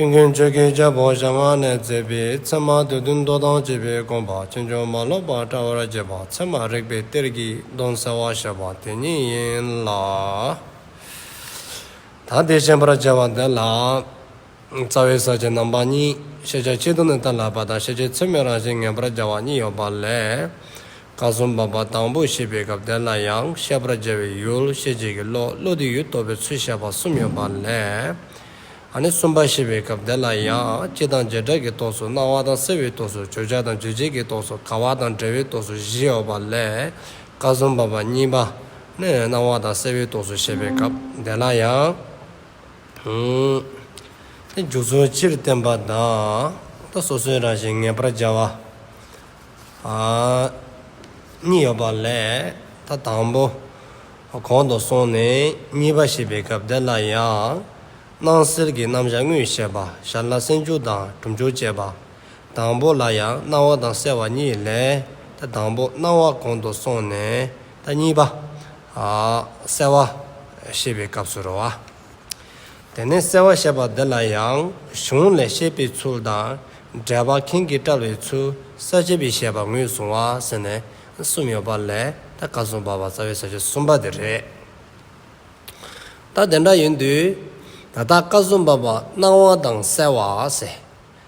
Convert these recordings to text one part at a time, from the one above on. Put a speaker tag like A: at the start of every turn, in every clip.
A: ཀུན་མཁྱེན་ཆོས་ཀྱི་རྒྱལ་པོ་ཞང་བ་ནས་མཛད་པའི་ཚད་མ་དུས་བདུན་མདོ་དང་བཅས་པའི་དགོངས་པ་ཅི་འབྱུང་མ་ལོག་པ་བཀྲ་བར་བྱེད་པ་ཚད་མ་རིག་པའི་གཏེར་གྱི་གདོན་བསལ་བར་བྱེད་པ་དེ་ཉིད་ཡིན་ལ། ད་ལྟའི་ཤེས་པར་བྱ་བ་འདི་ལ། རྩ་བའི་ས་བཅད་རྣམ་པ་གཉིས་ཤེས་བྱ་ཆེད་དུ་ནི་ཐ་ལ་པ་དང་ཤེས་བྱའི་ཚད་མའི་རང་བཞིན་ངེས་པར་བྱ་བ་གཉིས་ཡོད་པ་ལས། བཀའ་གསུམ་པ་པ་དང་པོ་ཞེས་པའི་སྐབས་འདི་ལ་ཡང་ཤེས་པར་བྱ་བའི་ཡུལ་ཤེས་བྱེད་ཀྱི་བློ་བློ་དེའི་ཡུལ་རྟོགས་པའི་ཚུལ་བཤད་པ་གསུམ་ཡོད་པ་ལས། ཨ་ནི་གསུམ་པ་ཞེས་པའི་སྐབས་འདི་ལ་ཡང་སྤྱི་དང་བྱེ་བྲག་གི་རྟོགས་སུ་སྣང་བ་དང་སེལ་བའི་རྟོགས་སུ་བརྗོད་བྱ་དང་རྗོད་བྱེད་ཀྱི་རྟོགས་སུ་དགའ་བ་དང་འབྲེལ་བའི་རྟོགས་སུ་བཞི་ཡོད་པ་ལས་ཀ་གསུམ་པ་པ་གཉིས་པ་ནི་སྣང་བ་དང་སེལ་བའི་རྟོགས་སུ་བཤད་པའི་སྐབས་འདི་ལ་ཡང། འདི་འཇུག་ཚུལ་སྤྱིར་བསྟན་པ་དང། སོ་སོའི་རང་བཞིན་ངེས་པར་འཇལ་བ། གཉིས་ཡོད་པ་ལས་ད་དང་པོ་གོང་དུ་སོང་ནས་གཉིས་པ་ཞེས་པའི་སྐབས་འདི་ལ་ཡང། སྣང་སེལ་གྱི་རྣམ་གཞག་དངོས་ཞེས་པ་ཞར་ལ་སེམས་བཅུ་དང་དྲུག་འཇོག་བྱས་པ། དང་པོ་ལ་ཡང་སྣང་བ་དང་གསལ་བ་གཉིས་ལས་ད་དང་པོ་སྣང་བ་གོང་དུ་སོང་ནས་ད་གཉིས་པ། གསལ་བ། ཞེས་པའི་སྐབས་སུ་རུང་བ། དེ་ནས་གསལ་བར་བཤད་པ་འདི་ལ་ཡང་གཞུང་ལས་བཤད་པའི་ཚུལ་དང་འགྲེལ་པ་མཁན་གྱིས་བཀྲལ་བའི་ཚུལ་གསལ་བྱེད་པའི་བཤད་པ་ངོས་བཟུང་བ་ཟེར་ནས་གསུམ་ཡོད་པ་ལས་ད་ག་གསུམ་པ་བ་རྩ་བའི་ས་བཅད་གསུམ་པ་དེ་རེད། ད་དེ་འདྲ་ཡིན་དུས་ད་ད་ག་གསུམ་པ་བ་སྣང་བ་དང་གསལ་བ་ཟེར།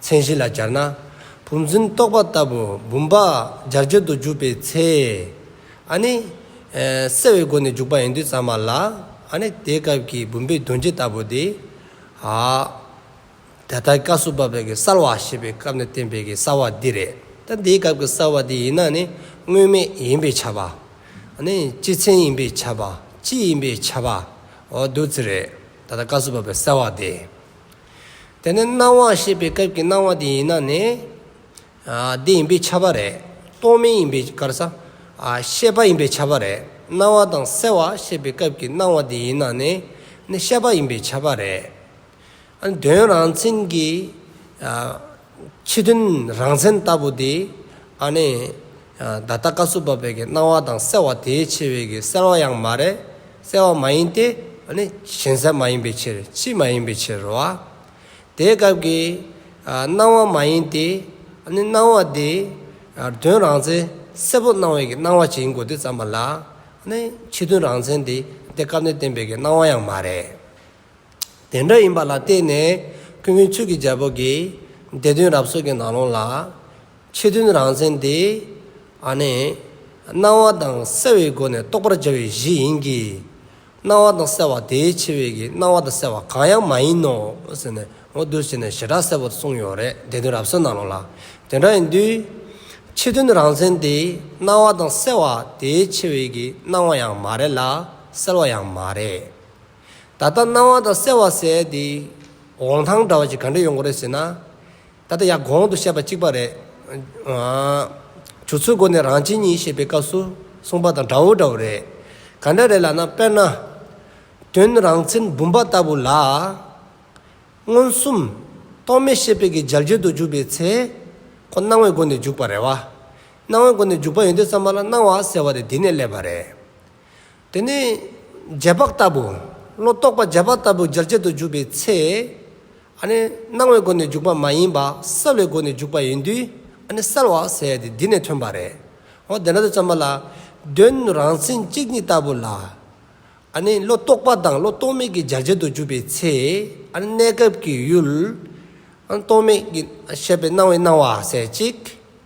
A: མཚན་གཞི་ལ་སྦྱར་ན། བུམ་འཛིན་རྟོག་པ་ལྟ་བུ་བུམ་པ་སྦྱར་སྦྱར་དུ་འཇུག་པའི་ཚེ། ཨ་ནི། གསལ་བའི་སྒོ་ནས་འཇུག་པ་ཡིན་དུས་ཙམ་མ་ལ། ཨ་ནི། དེའི་སྐབས་ཀྱི་བུམ་པའི་གདོན་བྱེད་ལྟ་བུ་དེ། ཨ། ད་ལྟ་ཀ་བསུ་བ་བས་ཀྱི་གསལ་བ་ཞེས་པའི་སྐབས་ནས་བསྟན་པའི་ཀྱི་གསལ་བ་འདི་རེད། ད་འདིའི་སྐབས་ཀྱི་གསལ་བ་དེ་ཡིན་ན་ནི་དངོས་མེད་ཡིན་པས་ཁྱབ། ཨ་ནི། སྤྱི་མཚན་ཡིན་པས་ཁྱབ། སྤྱི་ཡིན་པས་ཁྱབ། འོ་བདུད་རྩི་རེད། ད་ལྟ་ཀ་བསུ་བ་བས་གསལ་བ་དེ། དེ་ནི་སྣང་བ་ཤེས་པའི་སྐབས་ཀྱི་སྣང་བ་དེ་ཡིན་ན་ནི། འདི་ཡིན་པའི་ཁྱབ་པ་རེད། རྟོག་མིན་ཡིན་པའི་ཁར། ཤེས་པ་ཡིན་པའི་ཁྱབ་པ་རེད། སྣང་བ་དང་གསལ་བ་ཤེས་པའི་སྐབས་ཀྱི་སྣང་བ་དེ་ཡིན་ན་ནི། ཤེས་པ་ཡིན་པའི་ཁྱབ་པ་རེད། དོན་རང་མཚན་གྱི། ཕྱི་དོན་རང་མཚན་ལྟ་བུ་དེ། ཨ་ནི། ད་ལྟ་བཀའ་སྲུབ་པ་བས་ཀྱི་སྣང་བ་དང་གསལ་བ་དེའི་ཕྱི་བས་ཀྱི་གསལ་བ་ཡང་མ་རེད། གསལ་བ་མ་ཡིན་ཏེ། ཨ་ནི། ཞེན་གསལ་མ་ཡིན་པའི་ཕྱིར་ཕྱི་མ་ཡིན་པའི་ཕྱིར་རོ། དེའི་སྐབས་ཀྱི། སྣང་བ་མ་ཡིན་ཏེ། ཨ་ནི། སྣང་བ་དེ། དོན་རང་མཚན་གསལ་པོ་སྣང་བས་ཀྱི་སྣང་བ་ཅི་ཡིན་གོ་དེ་ཙམ་པ་ལ། ཨ་ནི། ཕྱི་དོན་རང་མཚན་དེ། དེ་སྐབས་ནས་བསྟན་པས་ཀྱི་སྣང་བ་ཡང་མ་རེད། དེ་འདྲ་ཡིན་པ་ལ་བརྟེན་ནས་ཁུ་བོའི་ཚུལ་གྱི་རྒྱལ་པོ་གིས་དེ་དོན་རབ་གསོལ་གྱི་ནང་ལོང་ལ། ཕྱི་དོན་རང་མཚན་དེ། ནི། སྣང་བ་དང་གསལ་བའི་སྒོ་ནས་རྟོགས་པར་བྱ་བའི་གཞི་ཡིན་གྱི། སྣང་བ་དང་གསལ་བ་དེའི་ཕྱི་བས་ཀྱི་སྣང་བ་དང་གསལ་བ་གང་ཡང་མ་ཡིན་ནོ། ཟེར་ནས་ངོ་བསྡུར་བྱས་ནས་ཞེ་དྲག་གསལ་བོར་གསུངས་ཡོད་རེད་དེ་དོན་རབ་གསོལ་ནང་ལོང་ལ། དེ་འདྲ་ཡིན་དུས། ཕྱི་དོན་རང་མཚན་དེ་སྣང་བ་དང་གསལ་བ་དེའི་ཕྱི་བས་ཀྱི་སྣང་བ་ཡང་མ་རེད་ལ་གསལ་བ་ཡང་མ་རེད། ད་ལྟ་སྣང་བ་དང་གསལ་བ་སའི་དེ་འོང་ཐང་འདྲ་བ་ཞིག་ག་འདྲས་ཡོང་གི་རེད་ཟེར་ན། ད་ལྟ་ཡང་གོང་དུ་བཤད་པ་གཅིག་པ་རེད། བྱུར་ཚུལ་སྒོ་ནས་རང་བྱིན་གཉིས་ཞེས་པའི་སྐབས་སུ་གསུངས་པ་དང་འདྲ་བོ་འདྲ་བོ་རེད། ག་འདྲ་རེད་ལབ་ན་དཔེར་ན། དོན་རང་མཚན་བུམ་པ་ལྟ་བུ་ལ། མངོན་སུམ། རྟོག་མེད་ཤེས་དཔལ་གྱི་འཇལ་བྱེད་དུ་འཇུག་པའི་ཚེ། ཁོ་སྣང་བའི་སྒོ་ནས་འཇུག་པ་རེད་བ། སྣང་བའི་སྒོ་ནས་འཇུག་པ་ཡོན་ཏན་གསར་མ་ལ་སྣང་བ་ཟེར་བ་རེད་དེ་ནས་སླེབས་པ་རེད། དེ་ནས་རྗེས་དཔག་ལྟ་བུ། བློ་རྟོག་པ་རྗེས་དཔག་ལྟ་བུ་སྦྱར་བྱེད་དུ་འཇུག་པའི་ཚེ། སྣང་བའི་སྒོ་ནས་འཇུག་པ་མ་ཡིན་པ་གསལ་བའི་སྒོ་ནས་འཇུག་པ་ཡིན་དུས་གསལ་བ་ཟེར་ཏེ་འདི་ནས་ཐོན་པ་རེད། འོ་དེ་འདྲ་དུ་བརྩམས་པ་ལ། དོན་རང་མཚན་གཅིག་ཉིད་ལྟ་བུ་ལ། བློ་རྟོག་པ་དང་བློ་རྟོག་མེད་ཀྱི་སྦྱར་བྱེད་དུ་འཇུག་པའི་ཚེ། གནས་སྐབས་ཀྱི་ཡུལ། རྟོག་མེད་ཀྱི་ཤེས་པའི་སྣང་བའི་སྣང་བ་ཟེར་ཅིག།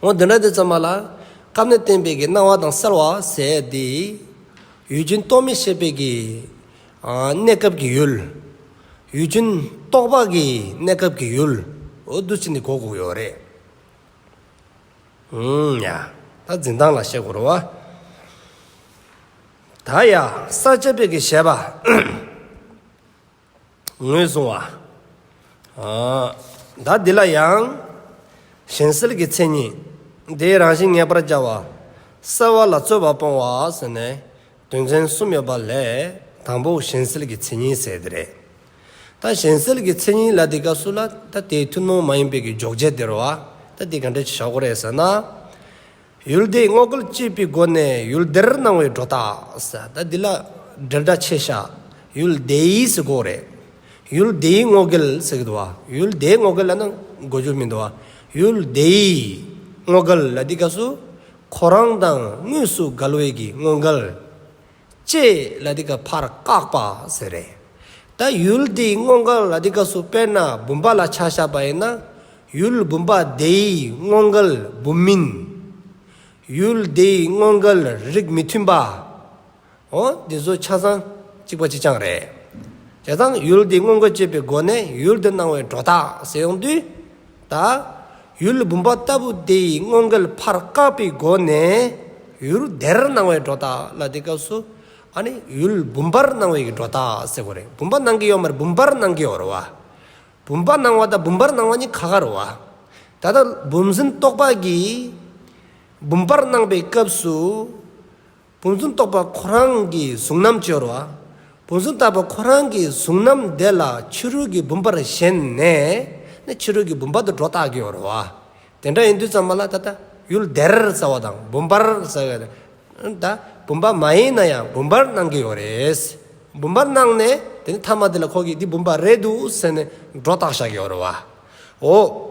A: ངོ། འདི་འདྲ་དེ་ཙམ་མ་ལགས། སྐབས་ནས་བསྟན་པའི་གི་སྣང་བ་དང་གསལ་བ་ཟད་དེ། ཡུལ་ཅན་རྟོག་མེད་ཤེས་པའི་གི། གནས་སྐབས་ཀྱི་ཡུལ། ཡུལ་ཅན་རྟོག་པ་གི་གནས་སྐབས་ཀྱི་ཡུལ། འོ་བསྡུ་ཚིག་འདི་གོ་དགོས་ཡོད་རེད། ཧུན། ཡ། ད་འཛིན་སྟངས་ལ་བཤད་དགོས་རུང་བ། ད་ཡ། ས་བཅད་པའི་གི་བཤད་པ། ངོས་བཟུང་བ། བདག་འདི་ལ་ཡང། གཞན་སེལ་གྱི་མཚན་ཉིད། དེའི་རང་བཞིན་ངེས་པར་བྱ་བ། གསལ་བ་ལ་རྩོལ་བ་སྤོང་བ་ཟེར་ནས། དོན་ཚན་གསུམ་ཡོད་པ་ལས་དང་པོ་གཞན་སེལ་གྱི་མཚན་ཉིད་ཟེར་དེ་རེད། ད་གཞན་སེལ་གྱི་མཚན་ཉིད་ལ་དེ་སྐབས་སུ་ལ་ད་དེའི་ཐུན་མོང་མ་ཡིན་པའི་གི་འཇོག་བྱེད་དེར་བ་ད་དེ་ག་འདྲ་ཞིག་བྱ་དགོས་རེད་ཟེར་ན། ཡུལ་དེའི་བསྔོག་སྐུལ་བཅས་པའི་སྒོ་ནས་ཡུལ་སྡེར་གནང་བའི་སྒྲོ་བཏགས། ད་འདི་ལ་འགྲེལ་སྒྲ་ཆེ་ཤ། ཡུལ་སྡེའི་ཟེར་གོ་རེད། ཡུལ་སྡེའི་བསྔོག་སྐུལ་ཟེར་གི་འདུག་བ། ཡུལ་སྡེའི་བསྔོག་སྐུལ་ལ་ནི་གོ་རྒྱུ་མི་འདུག་བ། ཡུལ་སྡེའི་བསྔོག་སྐུལ་ལ་འདི་སྐབས་སུ། ཁོ་རང་དང་དངོས་སུ་དགའ་ལོས་ཀྱི་བསྔོག་སྐུལ། ཅེས་ལ་དེ་ཀ་ཕར་བཀག་པ་ཟེར་རེད། ད་ཡུལ་དེའི་སྔོན་འགལ་ལ་དེ་ཀ་སུ་དཔེར་ན་བུམ་པ་ལ་ཆ་བཞག་པ་ཡིན་ན། ཡུལ་བུམ་པ་དེའི་སྔོན་འགལ་བུམ་མིན། ཡུལ་དེའི་སྔོན་འགལ་རིགས་མི་མཐུན་པ། འོ་འདི་ཚོ་ཆ་ཚང་གཅིག་པ་གཅིག་རྐྱང་རེད། བྱས་ཙང་ཡུལ་དེའི་སྔོན་འགལ་བཅད་པའི་སྒོ་ནས་ཡུལ་དེ་སྣང་བའི་གྲོགས་དག་ཟེར་ཡོང་དུས། ད་ཡུལ་བུམ་པ་ལྟ་བུ་དེ་ཡི་སྔོན་གེལ་ཕར་བཀག་པའི་སྒོ་ནས་ཡུལ་བདེར་སྣང་བའི་སྒྲོ་བཏགས་ལ་དེ་སྐབས་སུ་ཨ་ནི་ཡུལ་བུམ་པར་སྣང་བའི་སྒྲོ་བཏགས་ཟེར་བ་རེད་བུམ་པ་སྣང་གི་ཡོད་མ་རེད་བུམ་པར་སྣང་གི་ཡོད་རེད་བ། བུམ་པ་སྣང་བ་དང་བུམ་པར་སྣང་བ་གཉིས་ག་ག་རེད་བ། ད་ལྟ་བུམ་སེམས་རྟོགས་པ་གིས་བུམ་པར་སྣང་པའི་སྐབས་སུ། བུམ་གཟུགས་རྟོགས་པ་ཁོ་རང་གི་གཟུགས་རྣམ་སྤྱོར་བ། བུམ་གཟུགས་བརྟགས་པ་ཁོ་རང་གི་གཟུགས་རྣམ་བདེ་ལ་ཕྱི་རོལ་གྱི་བུམ་པར་ཞེན་ནས་ནི་ཕྱི་རོལ་གྱི་བུམ་པ་དུ་སྒྲོ་བཏགས་ཀྱི་འོར་བ། དེ་འདྲ་ཡིན་དུས་ཙམ་མ་ལ་ད་ལྟ་ཡུལ་བདེར་ཟ་བ་དང་བུམ་པར་ཟ་བའི་ལས་ད་བུམ་པ་མ་ཡིན་ན་ཡང་བུམ་པར་སྣང་གི་ཡོད་རེད། བུམ་པར་སྣང་ནས་དེ་ནི་ཐ་མ་དེ་ལ་ཁོ་གིས་འདི་བུམ་པ་རེད་འདུག་ཟེར་ནས་སྒྲོ་བཏགས་བཞག་གི་འོར་བའོ།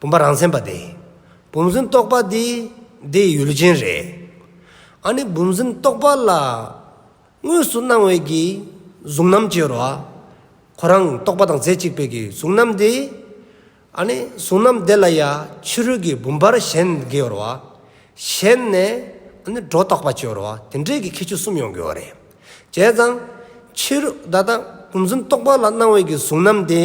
A: བུམ་པ་རང་མཚན་པ་དེ། བུམ་སེམས་རྟོགས་པ་དེ་དེའི་ཡུལ་ཅན་རེད། ཨ་ནི་བུམ་སེམས་རྟོགས་པ་ལ། དངོས་སུ་སྣང་བའི་གྱི་གཟུགས་རྣམ་ཅེས་རོ། ཁོ་རང་རྟོགས་པ་དང་རྫས་གཅིག་པའི་གྱི་གཟུགས་རྣམ་དེ། ཨ་ནི་གཟུགས་རྣམ་དེ་ལ་ཡང་ཕྱི་རོལ་གྱི་བུམ་པར་གཞན་གྱི་རོ། གཞན་ནས་ཨ་ནི་སྒྲོ་རྟོགས་པ་ཅེས་རོ། དེ་འདྲའི་གྱི་ཁྱད་ཆོས་གསུམ་ཡོང་གི་རེད། བྱས་ཙང། ཕྱི་རོལ་ད་ལྟ་བུམ་སེམས་རྟོགས་པ་ལ་སྣང་བའི་གྱི་གཟུགས་རྣམ་དེ།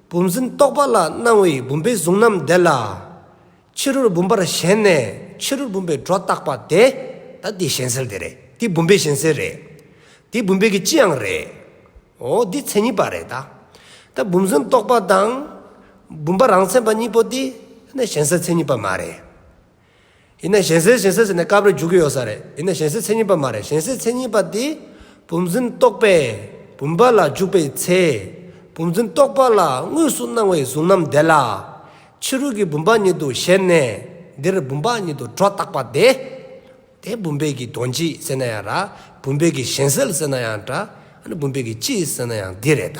A: བུམ་འཛིན་རྟོག་པ་ལ་སྣང་བའི་བུམ་པའི་གཟུགས་རྣམས་འདས་ལ། ཕྱི་རོལ་བུམ་པར་ཞེན་ནས་ཕྱི་རོལ་བུམ་པའི་སྒྲོ་བཏགས་པ་དེ། ད་དེའི་གཞན་སེལ་དེ་རེད་དེ་བུམ་པའི་གཞན་སེལ་རེད། དེ་བུམ་པའི་གི་ཅི་ཡང་རེད། འོ་འདི་མཚན་ཉིད་པ་རེད་ད། ད་བུམ་འཛིན་རྟོག་པ་དང། བུམ་པ་རང་མཚན་པ་གཉིས་པོ་དེ། ད་གཞན་སེལ་མཚན་ཉིད་པ་མ་རེད། ཡིན་ན་གཞན་སེལ་གཞན་སེལ་ཟེར་ནས་སྐབས་རེ་འཇུག་གི་ཡོད་ས་རེད་ཡིན་ན་གཞན་སེལ་མཚན་ཉིད་པ་མ་རེད་གཞན་སེལ་མཚན་ཉིད་པ་དེ་བུམ་འཛིན་རྟོག་པས་བུམ་པ་ལ་འཇུག་པའི་ཚེ། བུམ་འཛིན་རྟོག་པ་ལ་དངོས་སུ་སྣང་བའི་གཟུང་རྣམ་དེ་ལ། ཕྱི་རོལ་གྱི་བུམ་པ་ཉིད་དུ་ཞེན་ནས་འདིར་བུམ་པ་ཉིད་དུ་སྒྲོ་བཏགས་པ་དེ། དེ་བུམ་པའི་གྱི་དོན་གྱིས་ཟེར་ན་ཡང་ར་བུམ་པའི་གྱི་གཞན་སེལ་ཟེར་ན་ཡང་འདྲ་ཨ་ནི་བུམ་པའི་གྱི་སྤྱིས་ཟེར་ན་ཡང་འདི་རེད་ད།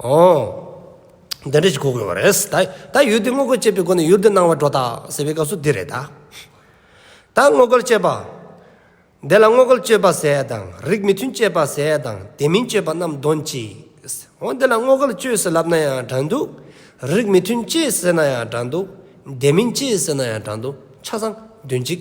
A: ཨོ། འདི་འདྲ་ཞིག་གོ་དགོས་པ་རེད། ད་ཡུལ་འདི་སྔོ་སྐར་སྤྱད་པའི་སྒོ་ནས་ཡུལ་འདི་སྣང་བ་སྒྲོ་བཏགས་ཟེར་བའི་སྐབས་སུ་འདི་རེད་ད། ད་སྔོ་སྐར་སྤྱད་པ། འདི་ལ་སྔོ་སྐར་སྤྱོད་པ་ཟེར་དང་རིགས་མི་མཐུན་སྤྱད་པ་ཟེར་དང་དེ་མིན་སྤྱོད་པ་རྣམས་འདོན་ཅིག། འོ་འདི་ལ་སྔོ་སྐར་སྤྱོད་ཟེར་ལབ་ན་ཡང་དྲང་འདུག། རིགས་མི་མཐུན་སྤྱད་ཟེར་ན་ཡང་དྲང་འདུག། དེ་མིན་སྤྱད་ཟེར་ན་ཡང་དྲང་འདུག་ཆ་ཚང་འདོན་ཅིག།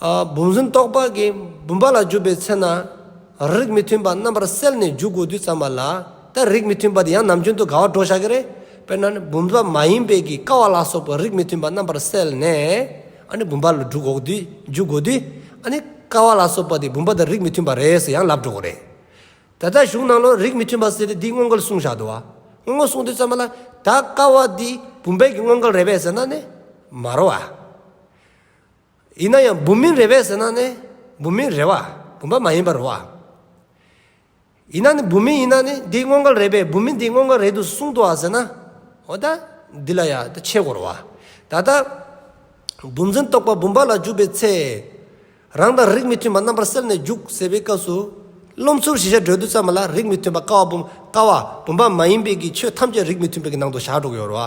A: བུམ་ཟིན་རྟོག་པ་གིས་བུམ་པ་ལ་གྱུར་པའི་ཚེ་ན། རིགས་མི་མཐུན་པ་རྣམ་པར་སེལ་ནས་འཇུག་དགོས་དུས་ཙམ་པ་ལ་ལྟར་རིགས་མི་མཐུན་པ་དེ་ཡང་ནམ་རྒྱུན་དུ་དགའ་བ་སྒྲོག་བྱ་གི་རེད། དཔེར་ན། བུམ་པ་མ་ཡིན་པའི་གིས་ཀ་བ་ལ་སོགས་པའི་རིགས་མི་མཐུན་པ་རྣམ་པར་སེལ་ནས། བུམ་པ་ལ་འཇུག་དགོས་དུས། ཀ་བ་ལ་སོགས་པ་དེ་བུམ་པ་དང་རིགས་མི་མཐུན་པ་རེད་ཟེར་ཡང་ལབ་འགྲོ་གི་རེད། ད་ལྟ་གཞུང་ནང་ལོ་རིགས་མི་མཐུན་པ་ཟེར་ཏེ་འདིའི་དངོས་འགལ་གསུངས་བཞག་འདུག་བ། དངོས་འགལ་གསུངས་དུས་ཙམ་པ་ལ་ད་ཀ་བ་འདི་བུམ་པའི་གི་དངོས་འགལ་རེད་པས་ཟེར་ན་ནི། མ་རོ་བ། ཡིན་ན་ཡང་བུམ་མིན་རེ་བས་ཟེར་ན་ནི་བུམ་མིན་རེ་བ་བུམ་པ་མ་ཡིན་པར་བ། ཡིན་ན་ནི་བུམ་མིན་ཡིན་ན་ནི་འདི་དངོས་འགལ་རེད་པས་བུམ་མིན་དེ་དངོས་འགལ་རེད་དུ་གསུངས་ཏོ་ཟེར་ན། འོ་ད་འདི་ལ་ཡང་ཆེས་གོ་རུ་བ། ད་ལྟ་བུམ་འཛིན་རྟོག་པ་བུམ་པ་ལ་འཇུག་པའི་ཚེ། རང་དང་རིགས་མི་མཐུན་པ་རྣམ་པར་སེལ་ནས་འཇུག་ཟེར་བའི་སྐབས་སུ། རློམ་ཚུལ་བཞི་ཤ་དགྲོལ་དུས་ཙམ་མ་ལ་རིགས་མི་མཐུན་པ་ཀ་བ་བུམ་པ་མ་ཡིན་པས་ཀྱི་ཆོས་ཐམས་ཅད་རིགས་མི་མཐུན་པའི་ནང་དུ་བཞག་འགྲོ་གི་ཡོད་རུ་བ།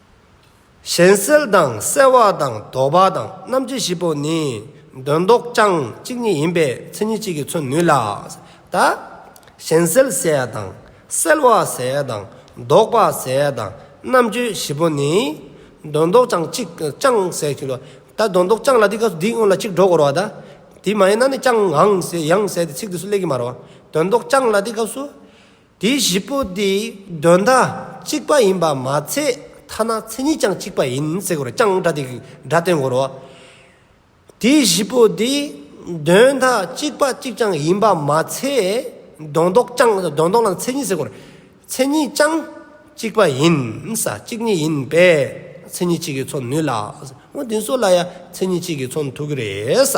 A: གཞན་སེལ་དང་བསལ་བ་དང་དོར་བ་དང་རྣམ་འབྱེད་བཞི་པོ་ནི་དོན་ལྡོག་རྐྱང་གཅིག་ཉིད་ཡིན་པས་མཚན་ཉིད་གཅིག་གིས་མཚོན་ནུས་ལ། ད་གཞན་སེལ་བསལ་དང་བསལ་བ་བསལ་དང་ལྡོག་པ་བསལ་དང་རྣམ་འབྱེད་བཞི་པོ་ནི་དོན་ལྡོག་རྐྱང་གཅིག་རྐྱང་བསལ་གྱི་ལོ། ད་དོན་ལྡོག་རྐྱང་ལ་དེ་སྐབས་སུ་དེའི་སྔོན་ལ་གཅིག་འགྲོ་དགོས་རོ། ད་དེ་མ་ཡིན་ན་ནི་རྐྱང་ཡང་བསལ་ཏེ་ཚིག་དེ་སུ་ལས་ཀྱི་མ་རོ། དོན་ལྡོག་རྐྱང་ལ་དེ་སྐབས་སུ། དེ་བཞི་པོ་དེ་དོན་དག་གཅིག་པ་ཡིན་པར་མ་ཚད་ཐ་ན་མཚན་ཉིད་ཀྱང་གཅིག་པ་ཡིན་ཟེར་དགོས་ཀྱང་སྒྲ་དེ་སྒྲ་སྟོན་དགོས་རོགས། དེ་བཞི་པོ་དེ་དོན་དག་གཅིག་པ་གཅིག་ཀྱང་ཡིན་པར་མ་ཚད་དོན་ལྡོག་ཀྱང་དོན་ལྡོག་ལ་མཚན་ཉིད་ཟེར་དགོས་མཚན་ཉིད་ཀྱང་གཅིག་པ་ཡིན་ས་གཅིག་ཉིད་ཡིན་པས་མཚན་ཉིད་གཅིག་གིས་མཚོན་ནུས་ལ། འོ་དེ་ཚོ་ལ་ཡང་མཚན་ཉིད་གཅིག་གིས་མཚོན་ཐུབ་ཀྱི་རེད་ས།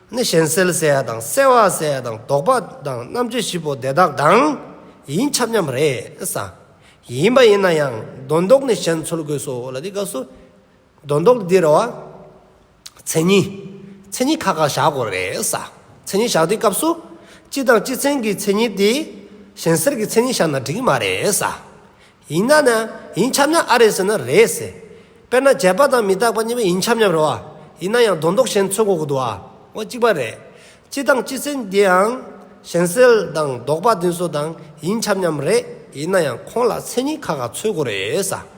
A: ནི་གཞན་སེལ་བསལ་བ་དང་བསལ་བ་བསལ་བ་དང་ལྡོག་པ་དང་རྣམ་དཔྱོད་བཞི་པོ་དེ་དག་དང་ཡིན་ཁྱབ་མཉམ་རེས་ས། ཡིན་པ་ཡིན་ན་ཡང་སྡོན་ལྡོག་ནི་གཞན་འཚོལ་དགོས་སོ་ལ་དེའི་སྐབས་སུ། སྡོན་ལྡོག་འདི་རུ། མཚན་ཉིད། མཚན་ཉིད་ཁག་ཁག་བཞག་དགོས་རེས་ས། མཚན་ཉིད་བཞག་དུས་སྐབས་སུ། སྤྱི་དང་སྤྱི་མཚན་གྱི་མཚན་ཉིད་དེ། གཞན་སེལ་གྱི་མཚན་ཉིད་བཞག་ན་འགྲིག་གི་མ་རེས་ས། ཡིན་ན་ནི་ཡིན་ཁྱབ་མཉམ་ཨ་རེད་ཟེར་ན་རེད་ཟེར། དཔེར་ན་བྱས་པ་དང་མི་རྟག་པ་གཉིས་པོ་ཡིན་ཁྱབ་མཉམ་རེད་བ། ཡིན་ན་ཡང་རྡོ་འདོགས་གཞན་འཚོལ་འགོག་གི་དུ་བ་གཅིག་པ་རེད། སྤྱི་དང་སྤྱི་སེལ་འདིའང། གཞན་སེལ་དང་ལྡོག་པ་འདི་ཚོ་དང་ཡིན་ཁྱབ་མཉམ་རེད། ཡིན་ན་ཡང་ཁོང་ལ་མཚན་ཉིད་ཁ་ཁ་འཚོལ་དགོས་རེད།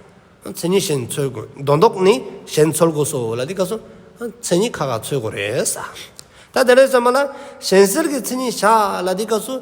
A: མཚན་ཉིད་གཞན་འཚོལ་དགོས་རྡོ་འདོགས་ནི་གཞན་འཚོལ་དགོས་སོ་ལ་དེ་སྐབས་སུ་མཚན་ཉིད་ཁ་ཁ་འཚོལ་དགོས་རེད། ད་དེ་ལས་གསོན་པ་ལ་གཞན་སེལ་གྱི་མཚན་ཉིད་བཞག་ལ་དེ་སྐབས་སུ།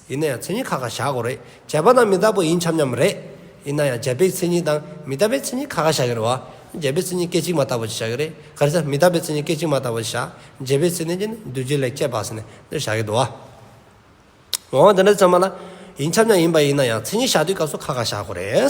A: ཡིན་ན་ཡང་མཚན་ཉིད་ཁ་ཁ་བཞག་གོ་རེད་བྱས་པ་ན་མི་རྟག་པོ་ཡིན་འཁྱམ་འཁྱམ་རེད། ཡིན་ན་ཡང་བྱས་པའི་མཚན་ཉིད་དང་མི་རྟག་པའི་མཚན་ཉིད་ཁ་ཁ་བཞག་གི་རེད་བ། བྱས་པའི་མཚན་ཉིད་སྐད་ཅིག་མ་ལྟ་བུ་ཞིག་བཞག་གི་རེད་ག་རེ་ད་མི་རྟག་པའི་མཚན་ཉིད་སྐད་ཅིག་མ་ལྟ་བུ་ཞིག་བཞག་བྱས་པའི་མཚན་ནས་ཀྱི་ནི་འདུས་བྱས་ལས་ཁྱད་འཕགས་ཟེར་ནས་འདིར་བཞག་གི་འདུག་བ། འོང་བ་འདི་འདྲ་ཚང་མ་ལ། ཡིན་འཁྱམ་འཁྱམ་ཡིན་པ་ཡིན་ན་ཡང་མཚན་ཉིད་བཞག་དུས་སྐབས་སུ་ཁ་ཁ་བཞག་གོ་རེད།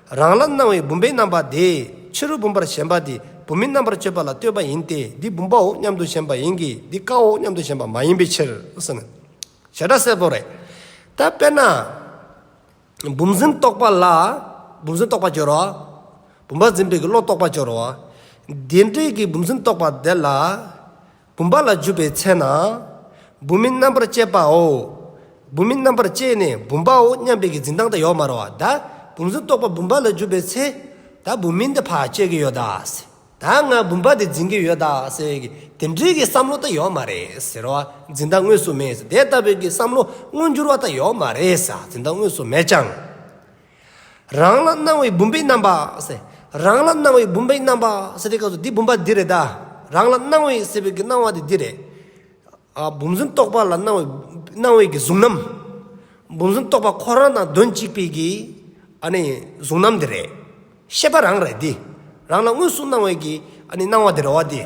A: རང་ལ་སྣང་བའི་བུམ་པའི་རྣམ་པ་དེས་ཕྱི་རོལ་བུམ་པར་ཞེན་པ་དེ་བུམ་མིན་རྣམ་པར་དཔྱོད་པ་ལ་ལྟོས་པ་ཡིན་ཏེ་འདི་བུམ་པའོ་སྙམ་དུ་ཞེན་པ་ཡིན་གྱི་འདི་རྐའོ་སྙམ་དུ་ཞེན་པ་མ་ཡིན་པའི་ཕྱིར། བྱེ་བྲག་གསལ་པོ་རེད། ད་དཔེར་ན། བུམ་འཛིན་རྟོག་པ་ལ་བུམ་འཛིན་རྟོག་པ་སྦྱོར་བ། བུམ་པ་འཛིན་པའི་བློ་རྟོག་པ་སྦྱོར་བ། དེ་འབྲེལ་གྱི་བུམ་འཛིན་རྟོག་པ་དེ་ལ། བུམ་པ་ལ་འཇུག་པའི་ཚེ་ན། བུམ་མིན་རྣམ་པར་བཅད་པའོ། བུམ་མིན་རྣམ་པར་བཅད་ནས་བུམ་པའོ་སྙམ་པའི་གི་འཛིན་སྟངས་དང་ཡོག་མར་བ་ད་བུམ་གཟུགས་རྟོགས་པ་བུམ་པ་ལ་འཇུག་པའི་ཚེ། ད་བུམ་མིན་དེ་བར་བཅད་ཀྱི་ཡོད་དཱ། ད་ང་བུམ་པ་དེ་འཛིན་གྱི་ཡོད་དཱ། དེ་འདྲའི་གི་བསམ་བློ་ད་ཡོག་མ་རེད། ཟེར་བ་འཛིན་སྟངས་དངོས་སུ་མེད། དེ་ལྟ་བུའི་གི་བསམ་བློ་མངོན་འགྱུར་བ་ད་ཡོག་མ་རེད། འཛིན་སྟངས་དངོས་སུ་མེད་ཀྱང། རང་ལ་སྣང་བའི་བུམ་པའི་རྣམ་པ། རང་ལ་སྣང་བའི་བུམ་པའི་རྣམ་པ། ཟེར་བའི་སྐབས་སུ་འདི་བུམ་པ་འདི་རེད་ད། རང་ལ་སྣང་བའི་ཟེར་བའི་སྣང་བ་དེ་འདི་རེད། བུམ་བཟུང་རྟོག་པ་ལ་སྣང་བའི་བའི་གཟུང་རྣམ། བུམ་བཟུང་རྟོག་པ་ཁོ་རང་དང་དོན་གཅིག་པའི་གི། གཟུང་རྣམ་དེ་རེད། ཤེས་པ་རང་རེད་དེ། རང་ལ་དངོས་སུ་སྣང་བའི་གི་སྣང་བ་དེ་རེད་བ་དེ།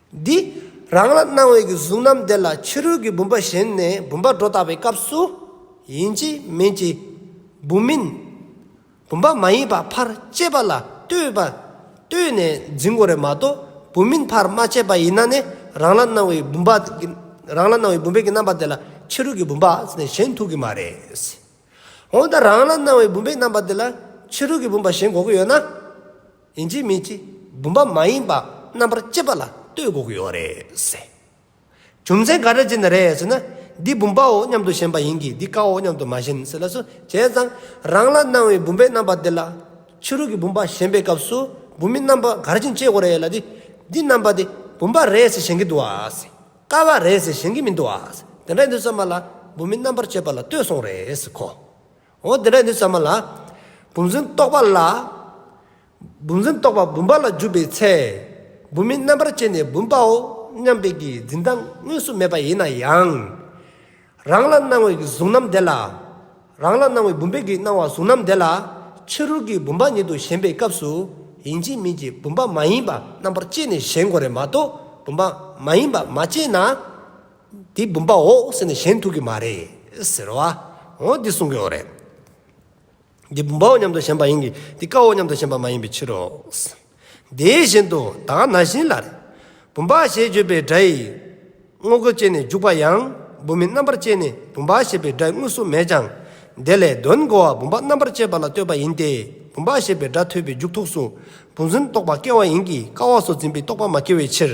A: འདི། རང་ལ་སྣང་བའི་གི་གཟུགས་རྣམས་དེ་ལ་ཕྱི་རོལ་གྱི་བུམ་པ་གཞན་ནས་བུམ་པ་སྒྲོ་བཏགས་པའི་སྐབས་སུ། ཡིན་གྱི་མིན་གྱི། བུམ་མིན། བུམ་པ་མ་ཡིན་པ་ཕར་བཅད་པ་ལ་ལྟོས་པ། ལྟོས་ནས་འཛིན་གོ་རེ་མ་གཏོགས་བུམ་མིན་ཕར་མ་བཅད་པ་ཡིན་ན་ནི་རང་ལ་སྣང་བའི་བུམ་པ། རང་ལ་སྣང་བའི་བུམ་པའི་གི་རྣམ་པ་དེ་ལ་ཕྱི་རོལ་གྱི་བུམ་པ་གཞན་ཐུག་གི་མ་རེད། འོན་ཏེ་རང་ལ་སྣང་བའི་བུམ་པའི་རྣམ་པ་འདི་ལ་ཕྱི་རོལ་གྱི་བུམ་པ་གཞན་འགོག་གི་ཡོད་ན། ཡིན་གཅིག་མིན་གཅིག་བུམ་པ་མ་ཡིན་པ་རྣམ་པར་དཔྱད་པ་ལ་ལྟོས་འགོག་གི་ཡོད་རེད་ཟེར། རྒྱུ་མཚན་ག་རེ་བྱས་ནས་རེད་ཟེར་ན། འདི་བུམ་པའོ་སྙམ་དུ་ཞེན་པ་ཡིན་གྱི་འདི་བཀའ་འོ་སྙམ་དུ་མ་ཞེན་ཟེར་ལ་སོ་བྱས་ཙང་རང་ལ་སྣང་བའི་བུམ་པའི་རྣམ་པ་འདི་ལ་ཕྱི་རོལ་གྱི་བུམ་པ་ཞེན་པའི་སྐབས་སུ་བུམ་པའི་རྣམ་པ་ག་རེ་བྱིན་དཔྱད་དགོས་རེད་ལ་དེ་འདི་རྣམ་པ་དེ་བུམ་པ་རེད་ཟེར་ཞེན་གྱི་འདུག་ཟེར། དཀའ་བ་རེད་ཟེར་བཞིན་གྱི་མི་འདུག་ཨ། འདི་འདྲའི་ནུས་ཟ་མ་ལ་འབུམ་མི་རྣམ་པར་སྤྱོད་པ་ལ་ལྟོས་སོང་རེད་གོ། འོ་འདི་འདྲའི་ནུས་ཟ་མ་ལ་འབུམ་བཟུང་རྟོག་པ་ལ། འབུམ་བཟུང་རྟོག་པ་འབུམ་པ་ལ་འཇུག་པའི་ཚེ། འབུམ་མི་རྣམ་པར་སྤྱད་ནས་འབུམ་པའོ་སྙམ་པའི་གྱི་འཛིན་སྟངས་དངོས་སུ་མེད་པ་ཡིན་ན་ཡང། རང་ལ་སྣང་བའི་གཟུགས་རྣམས་བདེ་ལ། རང་ལ་སྣང་བའི་བུམ་པའི་གིས་སྣང་བ་གཟུགས་རྣམས་བདེ་ལ། ཕྱི་རོལ་གྱི་བུམ་པ་ཉིད་དུ་ཞེན་པའི་སྐབས་སུ་ཡིན་གྱི་མིན་གྱི་བུམ་པ་མ་ཡིན་པ་རྣམ་པར་དཔྱད་ནས་གཞན་གོ་རེ་མ་གཏོགས་བུམ་པ་མ་ཡིན་པ་མ་དཔྱད་ན། དེ་བུམ་པའོ་ཟེར་ནས་གཞན་ཐུག་གི་མ་རེད་ཟེར་བ་འོ་འདི་གསུང་གི་འོ་རེད། འདི་བུམ་པའོ་སྙམ་དུ་ཞེན་པ་ཡིན་གྱི་འདི་ཀའོ་སྙམ་དུ་ཞེན་པ་མ་ཡིན་པའི་ཕྱིར་རོ། དེའི་བཞིན་དུ་དག་ན་བཞིན་ལ། བུམ་པ་ཞེས་བརྗོད་པའི་སྒྲ་ཡིས་དངོས་པོ་བསྐྱེད་ནས་འཇུག་པ་ཡང་བུམ་མིན་རྣམ་པར་བསྐྱེད་ནས་བུམ་པ་ཞེས་པའི་སྒྲ་དངོས་སུ་མེད་ཀྱང། དེ་ལས་དོན་གོ་བ་བུམ་པ་རྣམ་པར་བསྐྱེད་པ་ལ་ལྟོས་པ་ཡིན་ཏེ་བུམ་པ་ཞེས་པའི་སྒྲ་ཐོས་པའི་མཇུག་ཐོགས་སུ་བུམ་འཛིན་རྟོག་པ་སྐྱེ་བ་ཡིན་གྱི་ཀ་བ་སོགས་འཛིན་པའི་རྟོག་པ་མ་སྐྱེ་བའི་ཕྱིར།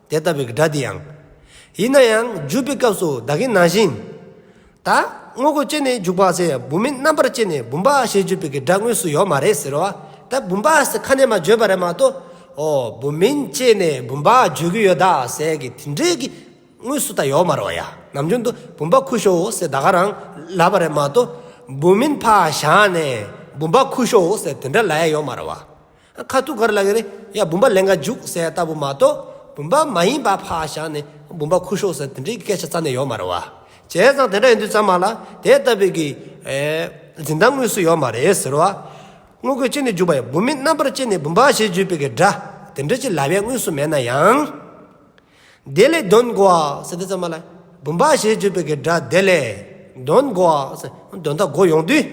A: དེ་ལྟ་བུའི་སྒྲ་འདི་ཡང། ཡིན་ན་ཡང་བརྗོད་པའི་སྐབས་སུ་བདག་གི་ནང་བཞིན་དུ། དངོས་པོ་སྐྱེས་ནས་འཇུག་པ་ཚེ་བུམ་མིན་རྣམ་པར་སྐྱེས་ནས་བུམ་པ་ཞེས་བརྗོད་པའི་སྒྲ་དངོས་སུ་ཡོད་མ་རེད་ཟེར་བ་དེ་བུམ་པ་ཟེར་ཁ་ནས་མ་བརྗོད་པ་རེད་མ་གཏོགས། འོ་བུམ་མིན་སྐྱེས་ནས་བུམ་པ་བརྗོད་ཀྱི་ཡོད་ད་ཟེར་གི་དེ་འདྲའི་གི་དངོས་སུ་ད་ཡོད་མ་རོ་ཡ་ནམ་རྒྱུན་དུ་བུམ་པ་ཁུ་ཤོའོ་ཟེར་ད་ག་རང་ལབ་པ་རེད་མ་གཏོགས། བུམ་མིན་ཕ་བཞག་ནས་བུམ་པ་ཁུ་ཤོའོ་ཟེར་དེ་འདྲ་ལབ་ཡ་ཡོད་མ་རོ་བ། ཁ་ཐུག་གར་ལ་ཡང་བུམ་པ་ལན་འགའ་འཇུག་ཟེར་ལྟ་བུ་མ་གཏོགས་བུམ་པ་མ་ཡིན་པ་ཕར་བཞག་ནས་བུམ་པ་ཁུར་ཤོག་ཟེར་དེ་འདྲའི་སྐད་ཆ་རྩ་ནས་ཡོད་མ་རེད་བ། བྱས་ཙང་དེ་འདྲ་ཡིན་དུས་ཙམ་མ་ལ་དེ་ལྟ་བུའི་གི། འཛིན་སྟངས་དངོས་སུ་ཡོད་མ་རེད་ཟེར་བ། དངོས་རྒོད་ཅིག་ནི་འཇུག་པ་ཡིན་བུམ་མིན་རྣམ་པར་དཔྱད་ནས་བུམ་པ་ཞེས་བརྗོད་པའི་གི་སྒྲ་དེ་འདྲ་ཅིག་ལབ་ཡས་དངོས་སུ་མེད་ན་ཡང། དེ་ལས་གདོན་བགོ་བ་སེ་དེ་ཙམ་མ་ལ། བུམ་པ་ཞེས་བརྗོད་པའི་སྒྲ་དེ་ལས། གདོན་བགོ་བ་སེ། གདོན་དག་བགོ་ཡོང་དུས།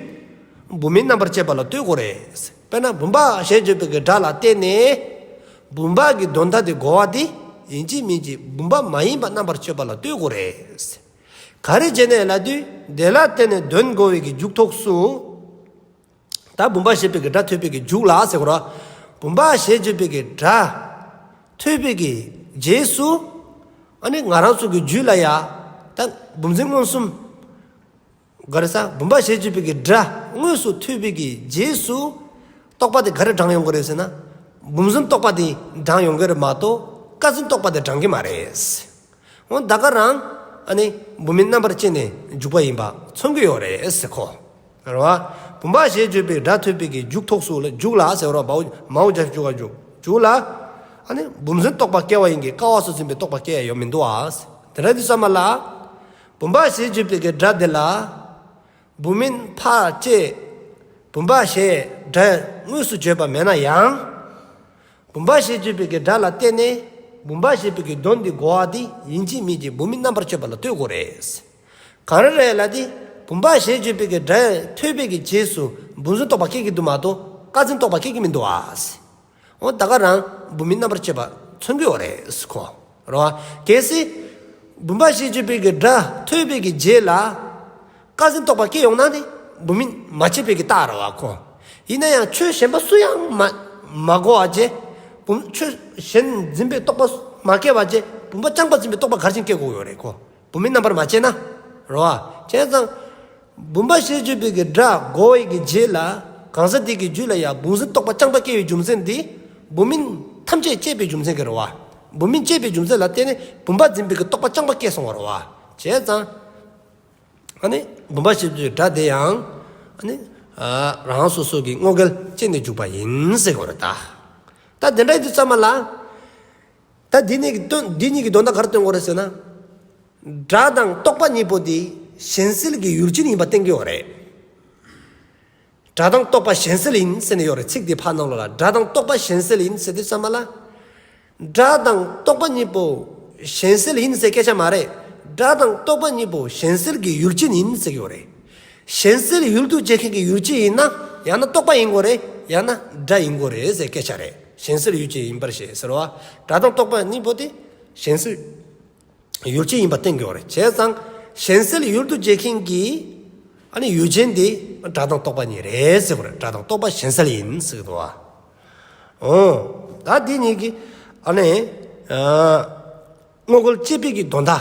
A: བུམ་མིན་རྣམ་པར་བཅད་པ་ལ་ལྟོས་དགོས་རེད། དཔེར་ན་བུམ་པ་ཞེས་བརྗོད་པའི་སྒྲ་ལ་བརྟེན་ནས། བུམ་པ་གི་གདོན་དག་དེ་བགོ་བ་དེ་ཡིན་གཅིག་མིན་གཅིག་བུམ་པ་མ་ཡིན་པ་རྣམ་པར་གཅོད་པ་ལ་ལྟོས་དགོས་རེད། ག་རེ་བྱས་ནས་ལ་དུས་དེ་ལ་བརྟེན་ནས་གདོན་བགོ་བའི་གི་མཇུག་ཐོགས་སུ། ད་བུམ་པ་ཞེས་པའི་སྒྲ་ཐོས་པས་ཀྱི་འཇུག་ལ་ཟེར་རོ། བུམ་པ་ཞེས་བརྗོད་པའི་ཀྱི་སྒྲ་ཐོས་པས་ཀྱི་རྗེས་སུ་ཨ་ནི་ང་རང་ཚུགས་ཀྱི་རྒྱུད་ལ་ཡ། ད་བུམ་འཛིན་མངོན་སུམ། ག་རེ་ས་བུམ་པ་ཞེས་བརྗོད་པའི་ཀྱི་སྒྲ་དངོས་སུ་ཐོས་པས་ཀྱི་རྗེས་སུ་རྟོག་པ་དེ་ག་རེ་བགྲང་ཡོང་གི་རེད་ཟེར་ན། བུམ་འཛིན་རྟོག་པ་དེ་བགྲང་ཡོང་གི་རེད་མ་གཏོགས་ཀ་འཛིན་རྟོག་པ་དེ་བགྲང་གི་མ་རེད། ཨོ་ད་ག་རང་ཨ་ནི་བུད་མེད་རྣམ་པར་བཅད་ནས་འཇུག་པ་ཡིན་པ་མཚོན་གྱི་ཡོད་རེད་ཟེར་ཁོ་རང་བ། བུམ་པ་ཞེས་བརྗོད་པའི་སྒྲ་ཐོས་པས་ཀྱི་འཇུག་ཐོགས་སུ་ལ་འཇུག་ལ་ཟེར་རོ་བའོ་མའོ་སྦྱར་འཇུག་ག་འཇུག་ལ། ཨ་ནི་བུམ་སུན་རྟོག་པ་སྐྱེ་བ་ཡིན་གྱི་ཀ་བ་སུ་སུན་པའི་རྟོག་པ་སྐྱེ་ཡ་ཡོད་མི་འདུག་ཨ། དེ་ར་འདི་ས་མ་ལ། བུམ་པ་ཞེས་བརྗོད་པའི་ཀྱི་སྒྲ་འདི་ལ། བུམ་མིན་འཕགས་ཅེས་བུམ་པ་ཞེས་སྒྲ་དངོས་སུ་བརྗོད་པ་མེད་ན་ཡང། བུམ་པ་ཞེས་བརྗོད་པའི་སྒྲ་ལ་བརྟེན་ནས་བུམ་པ་ཞེས་པའི་གདོན་འདི་འགོ་བ་དེ་ཡིན་གྱི་མིན་གྱི་བུམ་མིན་རྣམ་པར་གཅོད་པ་ལ་ལྟོས་དགོས་རེད། གང་རེ་རེ་ལ་དེ་བུམ་པ་ཞེས་བརྗོད་པའི་སྒྲ་ཐོས་པའི་རྗེས་སུ་འབུ་འཛིན་རྟོག་པ་སྐྱེ་གི་འདུག་མ་གཏོགས་བཀའ་འཛིན་རྟོག་པ་སྐྱེ་གི་མི་འདུག་ཨཱ། ཨོ་ད་ག་རང་བུད་མེད་རྣམ་པར་བཅད་པ་མཚོན་དགོས་བ་རེད་ཁོ་ར་བ། གལ་སྲིད། བུམ་པ་ཤེས་བརྗོད་དཔེ་གི་སྒྲ་ཐོས་དཔེ་གི་རྗེས་ལ། བཀའ་ཟིན་རྟོགས་པ་སྐྱེ་ཡོང་ན་ནི་བུད་མེད་མ་བྱས་དཔེ་གི་རྟགས་ར་བ་ཁོ། ཡིན་ན་ཡང་ཆོས་གཞན་པ་སུ་ཡང་མ་གོ་བ་བཅས་བུམ། ཆོས་གཞན་འཛིན་པའི་རྟོགས་པ་མ་སྐྱེ་བ་བཅས་བུམ་པ་རྐྱང་པ་འཛིན་པའི་རྟོགས་པ་གར་ཆེན་སྐྱེ་དགོས་བ་རེད་ཁོ། བུད་མེད་རྣམ་པར་མ་བཅད་ན། རོ། བྱས་ཙང། བུམ་པ་ཤེས་བརྗོད་པའི་གི་སྒྲ་སྒོ་འི་གི་རྗེས་ལ། གང་ཟག་དེ་གི་རྒྱུད་ལ་ཡང་བུང་སྲིན་རྟོག་པ་རྐྱང་པ་སྐྱེ་བའི་རྒྱུ་མཚན་དེ། བུད་མེད་ཐམས་ཅད་བཅད་པའི་རྒྱུ་མཚན་གི་རོ། བུད་མེད་བཅད་པའི་རྒྱུ་མཚན་ལ་བརྟེན་ནས་བུམ་པ་འཛིན་པའི་གི་རྟོག་པ་རྐྱང་པ་སྐྱེ་སོང་བ་རོ། བྱས་ཙང། ཨ་ནི། བུམ་པ་ཤེས་བརྗོད་པའི་སྒྲ་དེ་ཡང། ཨ་ནི། རང་སོ་སོ་གི་བསྔོ་སྐལ་བཅད་ནས་འཇུག་པ་ཡིན། ཟེར་གི་རོ། ད། ད་དེ་འདྲ་ཡི་དུས་ཙམ་མ་ལ། ད་འདི་གཉིས་ཀྱི་འདི་གཉིས་ཀྱི་དོན་དག་གར་སྟོན་དགོས་རེད་ཟེར་ན། སྒྲ་དང་རྟོག་པ་གཉིས་པོ་དེ་གཞན་སེལ་གྱི་ཡུལ་ཅན་ཡིན་པ་བསྟན་གྱི་ཡོད་རེད། སྒྲ་དང་རྟོག་པ་གཞན་སེལ་ཡིན་ཟེར་ནས་ཡོད་རེད་ཚིག་དེ་ཕར་ནང་ལོག་ལ་སྒྲ་དང་རྟོག་པ་གཞན་སེལ་ཡིན་ཟེར་དུས་ཙམ་མ་ལ། སྒྲ་དང་རྟོག་པ་གཉིས་པོ་གཞན་སེལ་ཡིན་ཟེར་སྐད་ཆ་མ་རེད་སྒྲ་དང་རྟོག་པ་གཉིས་པོ་གཞན་སེལ་གྱི་ཡུལ་ཅན་ཡིན་ཟེར་གྱི་ཡོད་རེད། གཞན་སེལ་ཡུལ་དུ་བྱེད་མཁན་གྱི་ཡུལ་ཅི་ཡིན་ན་ཡང་ན་རྟོག་པ་ཡིན་དགོས་རེད་ཡང་ན་སྒྲ་ཡིན་དགོས་རེད་ཟེར་སྐད་ཆ་རེད་གཞན་སེལ་ཡུལ་ཅི་ཡིན་པར་ཞེས་ཟེར་བ་སྒྲ་དང་རྟོག་པ་གཉིས་པོ་དེ་གཞན་སེལ་ཡུལ་ཅི་ཡིན་པ་བསྟན་དགོས་རེད་བྱས་ཙང་གཞན་སེལ་ཡུལ་དུ་བྱེད་མཁན་གྱི་ཨ་ནི་ཡུལ་ཅན་དེ་སྒྲ་དང་རྟོག་པ་གཉིས་རེད་ཟེར་བར་སྒྲ་དང་རྟོག་པ་གཞན་སེལ་ཡིན་ཟེར་གི་འདུག་ཨོ། ད་འདི་གཉིས་ཀྱི་ཨ་ནི་དངོས་པོ་དཔྱད་འཕེལ་གྱི་དོན་དག་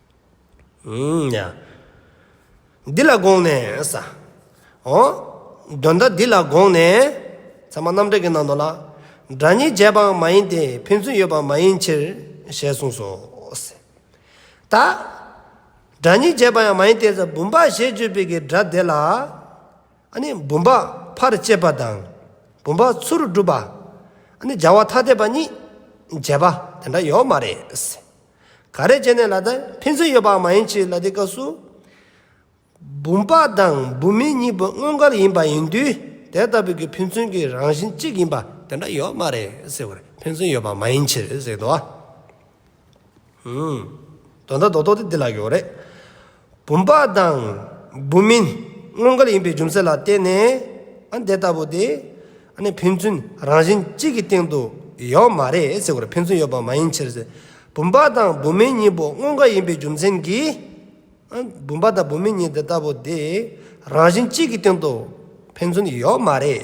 A: འདི་ལ་དགོངས་ནས། འོ། དོན་དག་འདི་ལ་དགོངས་ནས། ཚད་མ་རྣམ་གྲངས་ཀྱི་ནང་དུ་ལ། སྒྲ་གཉིས་འབྱེད་པའང་མ་ཡིན་ཏེ་ཕན་ཚུན་ཡོད་པ་མ་ཡིན་ཕྱིར། ཞེས་གསུངས་སོ། ད། སྒྲ་གཉིས་འབྱེད་པ་ཡང་མ་ཡིན་ཏེ་ཟ་བུམ་པ་ཞེས་བརྗོད་པའི་གི་སྒྲ་དེ་ལ། ནི་བུམ་པ་ཕར་བཅད་པ་དང། བུམ་པ་ཚུར་བསྒྲུབ་པ། ནི་སྦྱར་བ་ཐ་དད་པ་གཉིས། འབྱེད་པ་དེ་འདྲ་ཡོད་མ་རེད། ག་རེ་བྱས་ནས་ལ་དྭགས་ཕན་ཚུན་ཡོད་པའང་མ་ཡིན་ཕྱིར་ལ་དེའི་སྐབས་སུ་བུམ་པ་དང་བུམ་མིན་གཉིས་པོ་དངོས་འགལ་ཡིན་པ་ཡིན་དུས་དེ་ལྟ་བུ་གི་ཕན་ཚུན་གྱི་རང་བཞིན་གཅིག་ཡིན་པ་དེ་འདྲ་ཡོད་མ་རེད་ཟེར་བར་ཕན་ཚུན་ཡོད་པ་མ་ཡིན་ཕྱིར་ཟེར་དུ་བ། དོན་དག་རྡོག་རྡོག་དེ་འདི་ལ་ཡོད་རེད། བུམ་པ་དང། བུམ་མིན་སྔོན་གར་ཡིན་པའི་རྒྱུ་མཚན་ལ་བརྟེན་ནས་འདི་ལྟ་བུ་སྟེ། ཕན་ཚུན་རང་བཞིན་གཅིག་གི་སྟེང་དུ་ཡོད་མ་རེད་ཟེར་བར་ཕན་ཚུན་ཡོད་པ་མ་ཡིན་ཕྱིར། བུམ་པ་དང་བུམ་མིན་གཉིས་པོ་སྔོན་གར་ཡིན་པའི་རྒྱུ་མཚན་གྱིས། བུམ་པ་དང་བུམ་མིན་གཉིས་འདི་ལྟ་བུ་སྟེ། རང་བཞིན་གཅིག་གི་སྟེང་དུ་ཕན་ཚུན་ཡོད་མ་རེད།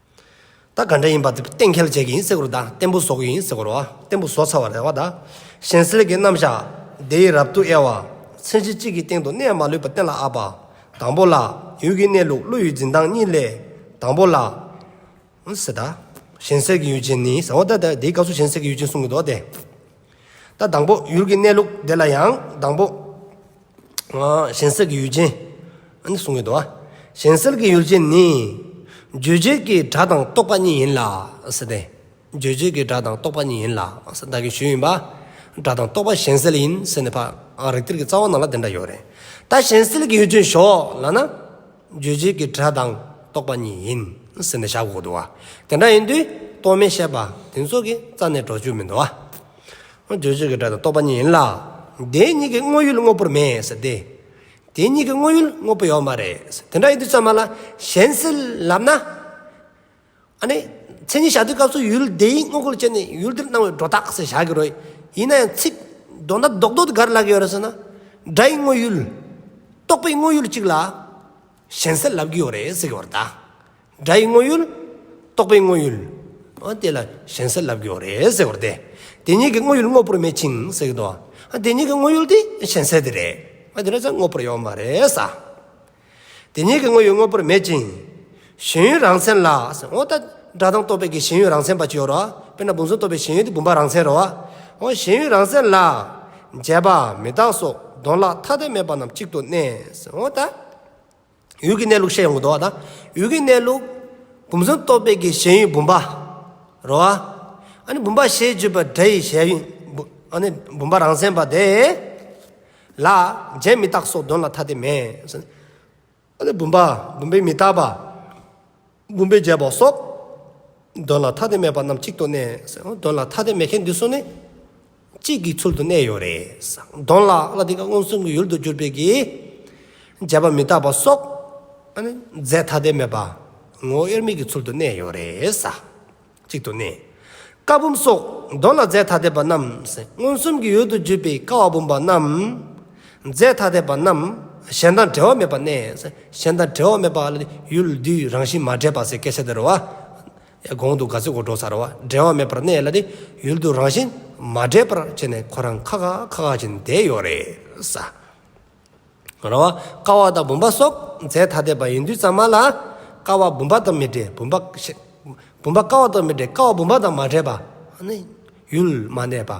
A: ད་ག་འདྲ་ཡིན་པ་དེ་གཏན་འཁེལ་བྱེད་ཀྱི་ཡིན་ཟེར་གོ་ར་ད་བརྟན་པོ་བཟོ་གི་ཡིན་ཟེར་གོ་ར་བརྟན་པོ་བཟོ་ཚར་བ་རེད་བ་ད། གཞན་སེལ་གྱི་རྣམ་བཞག་དེ་ཡི་རབ་ཏུ་དབྱེ་བ། མཚན་གཞི་གཅིག་གི་སྟེང་དུ་གནས་མ་ལུས་པ་གཏན་ལ་ཨ་པ། དང་པོ་ལ། ཡུལ་གྱི་གནས་ལུགས་བློ་ཡུལ་འཛིན་སྟངས་གཉིས་ལས། དང་པོ་ལ། ཟེར་ད། གཞན་སེལ་གྱི་ཡུལ་ཅན་ནི་ཟེར་བ་ད་དེའི་སྐབས་སུ་གཞན་སེལ་གྱི་ཡུལ་ཅན་གསུངས་ཀྱི་འདུག་བ་དེ། ད་དང་པོ་ཡུལ་གྱི་གནས་ལུགས་དེ་ལ་ཡང་དང་པོ། གཞན་སེལ་གྱི་ཡུལ་ཅན། ཨ་ནི་གསུང་གི་དོན། གཞན་སེལ་གྱི་ཡུལ་ཅན་ནི། རྗོད་བྱེད་ཀྱི་སྒྲ་དང་རྟོག་པ་གཉིས་ཡིན་ལ། རྗོད་བྱེད་ཀྱི་སྒྲ་དང་རྟོག་པ་གཉིས་ཡིན་ལ། བདག་གི་ཞུས་ཡིན་པ། སྒྲ་དང་རྟོག་པ་གཞན་སེལ་ཡིན་ཟེར་ནས་ཕར། རིགས་གཏེར་གྱི་རྩ་བ་ནང་ལ་དེ་འདྲ་ཡོད་རེད། ད་གཞན་སེལ་གྱི་ཡུལ་ཅན་ཞོག་ལ་ན། རྗོད་བྱེད་ཀྱི་སྒྲ་དང་རྟོག་པ་གཉིས་ཡིན་ཟེར་ནས་བཞག་དགོས་འདུག་བ། དེ་འདྲ་ཡིན་དུས་རྟོག་མེད་བཤད་པ་དེ་ཚོ་གི་རྩ་ནས་འགྲོ་རྒྱུ་མི་འདུག་བ། བརྗོད་བྱེད་ཀྱི་སྒྲ་དང་རྟོག་པ་གཉིས་ཡིན་ལ། དེ་གཉིས་ཀྱི་དངོས་ཡུལ་དངོས་པོར་མེད་ཟེར་ཏེ། དེ་གཉིས་ཀྱི་དངོས་ཡུལ་དངོས་པོ་ཡོད་མ་རེད། དེ་འདྲ་ཡིན་དུས་ཚད་མ་ལ་གཞན་སེལ་ལབ་ན། ཨ་ནི། མཚན་ཉིད་བཞག་དུས་སྐབས་སུ་ཡུལ་དེའི་དངོས་པོ་ལ་བྱས་ནས་ཡུལ་དེར་སྣང་བའི་སྒྲོ་བཏགས་ཟེར་བཞག་གི་རོ། ཡིན་ན་ཡང་ཚིག། མདོ་མདའ་རྡོག་རྡོག་ཏུ་ག་རེ་ལབ་ཀྱི་ཡོད་རེད་ཟེར་ན། སྒྲ་ཡི་དངོས་ཡུལ། རྟོག་པའི་དངོས་ཡུལ་གཅིག་ལ། གཞན་སེལ་ལབ་ཀྱི་ཡོད་རེད་ཟེར་གྱི་བར་དག། སྒྲ་ཡི་དངོས་ཡུལ། རྟོག་པའི་དངོས་ཡུལ། དེ་ལ་གཞན་སེལ་ལབ་ཀྱི་ཡོད་རེད་ཟེར་བར་དེ། དེ་གཉིས་ཀྱི་དངོས་ཡུལ་དངོས་པོར་མེད་ཅིང་ཟེར་གྱི་འདུག་ཨ། དེ་གཉིས་ཀྱི་དངོས་ཡུལ་དེ་གཞན་སེལ་དེ་རེད། དེ་ལ་ཚད་དངོས་པོར་ཡོད་མ་རེད་ས། དེ་གཉིས་ཀྱི་དངོས་ཡུལ་དངོས་པོར་མེད་ཅིང། གཞན་ཡུལ་རང་མཚན་ལ། འོ་ད། སྒྲ་དང་རྟོག་པའི་གཞན་ཡུལ་རང་མཚན་པ་ཅི་ཡོད་རོ། དཔེར་ན་བུམ་གཟུགས་རྟོག་པའི་གཞན་ཡུལ་དེ་བུམ་པ་རང་མཚན་རོ། གཞན་ཡུལ་རང་མཚན་ལ། མཇལ་བ། མི་བདག་སོགས་གདོན་ལ་ཐ་དད་མེད་པ་རྣམས་གཅིག་ཏུ་གནས། འོ་ད། ཡུལ་གྱི་གནས་ལུགས་བཤད་ཡོང་གི་འདུག་ད། ཡུལ་གྱི་གནས་ལུགས། བུམ་གཟུགས་རྟོག་དཔེ་གྱི་ཞེན་ཡུལ་བུམ་པ། རོ། ཨ་ནི་བུམ་པ་ཞེས་བརྗོད་པའི་སྒྲ་ཡི་ཞལ། ཨ་ནི་བུམ་པ་རང་མཚན་པ་དེ། ལ། མཇལ་མི་བདག་སོགས་གདོན་ལ་ཐ་དད་མེད། ཨ་ལས་བུམ་པ་བུམ་པའི་མི་རྟག་པ། བུམ་པའི་རྒྱལ་པོ་སོགས། དོན་ལ་ཐ་དད་མེད་པ་རྣམས་གཅིག་ཏུ་གནས། དོན་ལ་ཐ་དད་མེད་མཁན་འདི་ཚོ་ནི། གཅིག་གི་ཚུལ་དུ་གནས་ཡོད་རེད། དོན་ལ་ལ་དེ་ཀ་མངོན་སུམ་གྱི་ཡུལ་དུ་གྱུར་པའི་གི། རྒྱལ་པོ་མི་རྟག་པ་སོགས། རྫས་ཐ་དད་མེད་པ། ངོ་དབྱེར་མེད་ཀྱི་ཚུལ་དུ་གནས་ཡོད་རེད། གཅིག་ཏུ་གནས། ཀ་བུམ་སོགས་མདོ་ལ་རྫས་ཐ་དད་པ་རྣམས་མངོན་སུམ་གྱི་ཡུལ་དུ་བརྗོད་པའི་ཀ་བ་བུམ་པ་རྣམས། རྫས་ཐ་དད་པ་རྣམས་གཞན་དང་འབྲེལ་བ་མེད་པར་གནས། གཞན་དང་འབྲེལ་བ་མེད་པ་ལ་ནི་ཡུལ་དུས་རང་བཞིན་མ་འདྲེས་པ་ཟེར་སྐད་ཆ་འདི་རུ་བ། གོང་དུ་ག་ཚོད་གོ་བགྲོས་སར་བ་འབྲེལ་བ་མེད་པར་གནས་ལ་ནི་ཡུལ་དུས་རང་བཞིན་མ་འདྲེས་པར་བྱས་ནས་ཁོ་རང་ཁ་ཁ་ཁ་ཁ་བཞིན་བསྡད་ཡོད་རེད་ས། ར་བ། ཀ་བ་དང་བུམ་པ་སོགས་རྫས་ཐ་དད་པ་ཡིན་དུས་གཙང་མ་ལ། ཀ་བ་བུམ་པ་དང་མི་འདྲེས་བུམ་པ། བུམ་པ་ཀ་བ་དང་མི་འདྲེས་ཀ་བ་བུམ་པ་དང་མ་འདྲེས་པ། ཡུལ་མ་གནས་པ།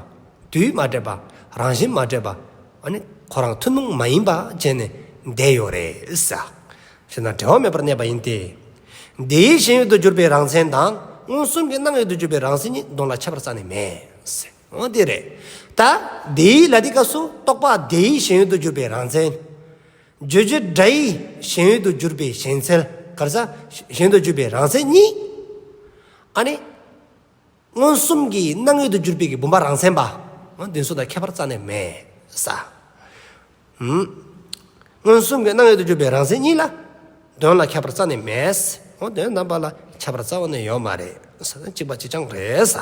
A: དུས་མ་འདྲེས་པ། རང་བཞིན་མ་འདྲེས་པ། ཁོ་རང་ཐུན་མོང་མ་ཡིན་པ་ཅན་ནི་འདས་ཡོད་རེད། ཞེ་སྡང་བྲལ་བ་མེད་པར་གནས་པ་ཡིན་ཏེ། འདི་ཡིད་བཞིན་ཡོད་དུ་གྱུར་པའི་རང་མཚན་དང་མངོན་སུམ་གྱི་སྣང་ཡོད་དུ་གྱུར་པའི་རང་བཞིན་གཉིས་གདོན་ལ་ཁྱད་པར་ས་ནས་མེད། འོ་དེ་རེད། ད། དེའི་ལ་དེའི་སྐབས་སུ་རྟོག་པ་དེའི་ཞེན་ཡུལ་དུ་གྱུར་པའི་རང་མཚན། རྗོད་བྱེད་སྒྲའི་ཞེན་ཡུལ་དུ་གྱུར་པའི་ཞེན་འཚལ། གར་ས། ཞེན་དུ་གྱུར་པའི་རང་མཚན་གཉིས། ཨ་ནི། མངོན་སུམ་གྱི་སྣང་ཡུལ་དུ་གྱུར་པའི་གྱི་བུམ་པ་རང་མཚན་པ། འོ་འདི་ཚོ་དང་ཁྱད་པར་རྩ་ནས་མེད། ས། མངོན་སུམ་གྱི་སྣང་ཡུལ་དུ་གྱུར་པའི་རང་མཚན་གཉིས་ལ། དོན་ལ་ཁྱད་པར་རྩ་ནས་མེད། འོ་དོན་དམ་པ་ལ་ཁྱད་པར་རྩ་བ་ནས་ཡོད་མ་རེད། ས། གཅིག་པ་གཅིག་རྐྱང་རེད། ས།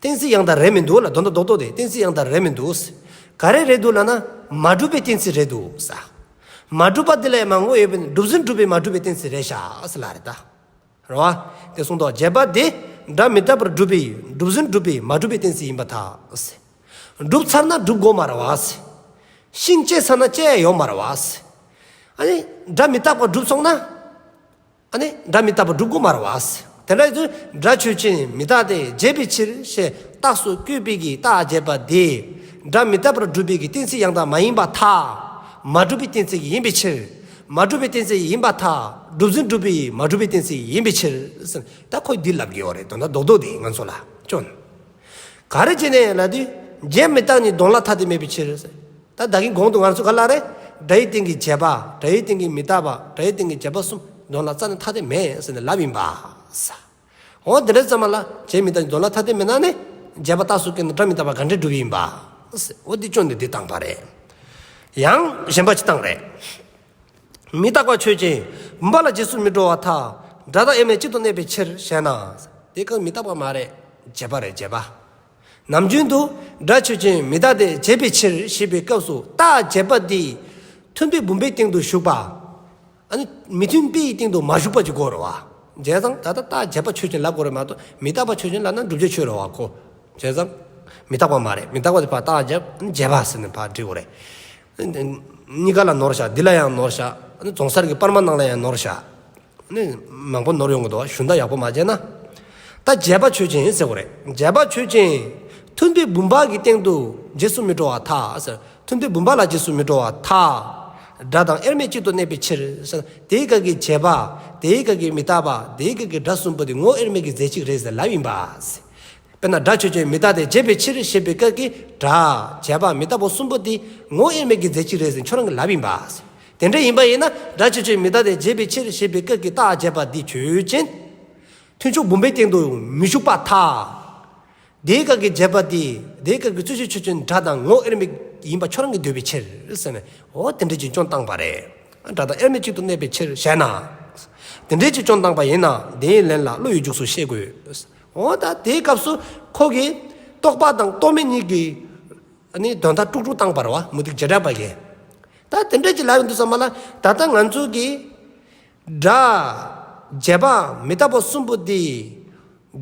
A: གཏན་ཚིགས་ཡང་དག་རེད་མི་འདུག་ལ་དོན་དུ་རྡོག་རྡོག་དེ་གཏན་ཚིགས་ཡང་དག་རེད་མི་འདུག་ཟེར། ག་རེ་རེད་འདུག་ལབ་ན་མ་གྲུབ་པའི་གཏན་ཚིགས་རེད་འདུག་ཟེར། མ་གྲུབ་པ་འདི་ལས་མང་བོ་ཡོད་པས་གྲུབ་ཟིན་གྲུབ་པའི་མ་གྲུབ་པའི་གཏན་ཚིགས་རེད་ཤག་ཟེར་ལ་རེད། རེད་བ། དེ་གསུངས་དོགས་བརྒྱད་པ་དེ་འདྲ་མི་ལྟ་བར་གྲུབ་པའི་གྲུབ་ཟིན་གྲུབ་པའི་མ་གྲུབ་པའི་གཏན་ཚིགས་ཡིན་པ་དག་ཟེར། བསྒྲུབ་ཚར་ན་བསྒྲུབ་དགོས་མ་རེད་བ་ཟེར། ཤིང་བཅད་ཚར་ན་བཅད་ཡོད་མ་རེད་བ་ཟེར། ཨ་ནི། སྒྲ་མི་རྟག་པར་བསྒྲུབས་སོང་ན། ཨ་ནི་སྒྲ་མི་རྟག་པ་སྒྲུབ་སྒོ་མར་བས། དེ་འདྲ་དུ་སྒྲ་ཆོས་ཅན་མི་རྟག་སྟེ་བརྗེད་པའི་ཕྱིར་ཞེས་རྟགས་སུ་བཀོད་པས་ཀྱི་རྟགས་བརྗེད་པ་དེས་སྒྲ་མི་རྟག་པར་སྒྲུབ་པའི་ཀྱི་གཏན་ཚིགས་ཡང་དག་མ་ཡིན་པ་ཐ་མ་སྒྲུབ་པའི་གཏན་ཚིགས་ཡིན་པའི་ཕྱིར། མ་སྒྲུབ་པའི་གཏན་ཚིགས་ཡིན་པ་ཐ་སྒྲུབ་ཟིན་སྒྲུབ་པའི་མ་སྒྲུབ་པའི་གཏན་ཚིགས་ཡིན་པའི་ཕྱིར། ད་ཁོས་འདི་ལབ་དགོས་བ་རེད་དོ་ན་རྡོག་རྡོག་འདི་ང་ཚོ་ལ་སྐྱོན་ག་རེ་བྱས་ནས་ལབ་དུས་བརྗེད་མི་རྟག་ནི་གདོང་ལ་ཐ་དད་མེད་པའི་ཕྱིར། ད་བདག་གིས་གོང་དུ་ངར་ཚུལ་ག་ལ་རེད། སྒྲ་ཡི་སྟེང་གི་བྱས་པ། སྒྲ་ཡི་སྟེང་གི་མི་རྟག་པ། སྒྲ་ཡི་སྟེང་གི་བྱས་པ་གསུམ། འདོན་ལ་རྩ་ནི་ཐ་དད་མེད་ཟེར་ནས་ལབ་ཡིན་པ། ས། འོ་དེ་འདྲའི་རྩ་མ་ལ། བྱས་མི་རྟག་འདོན་ལ་ཐ་དད་མེད་ན་ནི། བྱས་པ་རྟགས་སུ་བཀལ་ན་སྒྲ་མི་རྟག་པ་ག་འདྲས་འགྲུབ་ཡིན་པ། ས། འོ་འདི་ཅོ་ནི་འདི་དང་བ་རེད། ཡང་གཞན་པ་ཅི་དང་རེད། མི་རྟག་པ་ཆོས་ཅན། བུམ་པ་ལ་རྗེས་སུ་མི་འགྲོ་བ་ཐ། སྒྲ་དང་དབྱེར་མེད་གཅིག་ཏུ་གནས་པའི་ཕྱིར་ཞེ་ན། དེ་གང་མི་རྟག་པ་མ་རེད། བྱས་པ་རེད་བྱས་པ། ནམ་རྒྱུན་དུ་སྒྲ་ཆོས་ཅན་མི་རྟག་སྟེ་བྱས་པའི་ཕྱིར་ཞེས་པའི་སྐབས་སུ་རྟག་བྱས་པ་དེ་མཐུན་པའི་བུམ་པའི་སྟེང་དུ་ཞུགས་པ། མི་མཐུན་པའི་སྟེང་དུ་མ་ཞུགས་པ་ཀྱི་སྐོར་རོ། བྱས་ཙང་ད་ལྟ་རྟག་བྱས་པ་ཆོས་ཅན་ལ་སྐོར་རེད་མ་གཏོགས་མི་རྟག་པ་ཆོས་ཅན་ལ་ན་བསྒྲུབ་བྱ་ཆོས་རོ་བ་གོ། བྱས་ཙང་མི་རྟག་པ་མ་རེད་མི་རྟག་པ་དེ་བར་རྟག་བྱས་པ་ཟེར་ནས་བར་འབྲི་བ་རེད། གཉིས་ཀ་ལ་ནོར་བྱ་འདི་ལ་ཡང་ནོར་བྱ་རྫོང་གསར་གྱི་པར་མ་ནང་ལ་ཡང་ནོར་བྱ། ནི། མང་པོ་ནོར་ཡོང་གི་འདུག་གཞུང་བདག་ཡག་པོ་མ་བྱས་ན། ད་རྒྱལ་པ་ཆོས་ཅན་ཟེར་གོ་རེད་རྒྱལ་པ་ཆོས་ཅན། མཐུན་པའི་བུམ་པ་གི་སྟེང་དུ་རྗེས་སུ་མི་འགྲོ་བ་ཐག་ཟེར། མཐུན་པའི་བུམ་པ་ལ་རྗེས་སུ་མི་འགྲོ་བ་ཐག། སྒྲ་དང་དབྱེར་མེད་གཅིག་ཏུ་གནས་པའི་ཕྱིར། དེའི་སྐབས་ཀྱི་བྱས་པ། དེའི་སྐབས་ཀྱི་མི་རྟག་པ། དེའི་སྐབས་ཀྱི་སྒྲ་གསུམ་པོ་དེ་ངོ་དབྱེར་མེད་ཀྱི་རྫས་གཅིག་རེད་ཟེར་ལབ་ཡིན་པ། དཔེར་ན་སྒྲ་ཆོས་ཅན་མི་རྟག་སྟེ་བྱས་པའི་ཕྱིར་ཞེས་པའི་སྐབས་ཀྱི་སྒྲ། བྱས་པ་མི་རྟག་པ་གསུམ་པོ་དེ་ངོ་དབྱེར་མེད་ཀྱི་རྫས་གཅིག་རེད་ཟེར་ཁྱོད་རང་གི་ལབ་ཡིན་པ། དེ་འདྲ་ཡིན་པ་ཡིན་ན་སྒྲ་ཆེ་ཆོས་མི་རྟག་སྟེ་བརྗེད་པའི་ཕྱིར་ཞེས་པའི་སྐད་ཀྱི་རྟགས་བརྗེད་པ་འདི་ཆོས་ཅན། ཐུན་ཕྱོགས་བུམ་པའི་སྟེང་དུ་མི་བཞུགས་པ་ཐ། དེའི་སྐད་ཀྱི་བརྗེད་པ་དེ་དེའི་སྐད་ཀྱི་རྩོད་གཞི་ཆོས་ཅན་སྒྲ་དང་ངོ་དབྱེར་མེད་ཡིན་པ་ཁྱོད་རང་གིས་འདོད་པའི་ཕྱིར་ཟེར་ནས་འོ་དེ་འདྲའི་ཅིག་ཅུང་བཏང་བ་རེད། སྒྲ་དང་དབྱེར་མེད་ཅིག་ཏུ་གནས་པའི་ཕྱིར་ཞེ་ན། དེ་འདྲའི་ཅིག་ཅུང་བཏང་བ་ཡིན་ན་དེའི་ལན་ལ་བློ་ཡི་འཇུག་སུ་ཤེས་དགོས། འོ་ད་དེའི་སྐབས་སུ་ཁོ་གིས་རྟོགས་པ་དང་རྟོགས་མེད་གཉིས་ཀྱི་ནི་དོན་མཐའ་དཀྲུགས་དཀྲུགས་བཏང་བར་བ་མུ་ཏིག་བྱེ་བྲག་པ་ཡིན། ད་དེ་འདྲ་ཅིག་ལབ་ཡོང་འདུག་ས་མ་ལ། ད་ལྟ་ང་ཚོ་གིས། སྒྲ། བརྗེད་པ་མི་རྟག་པ་གསུམ་པོ་འདི།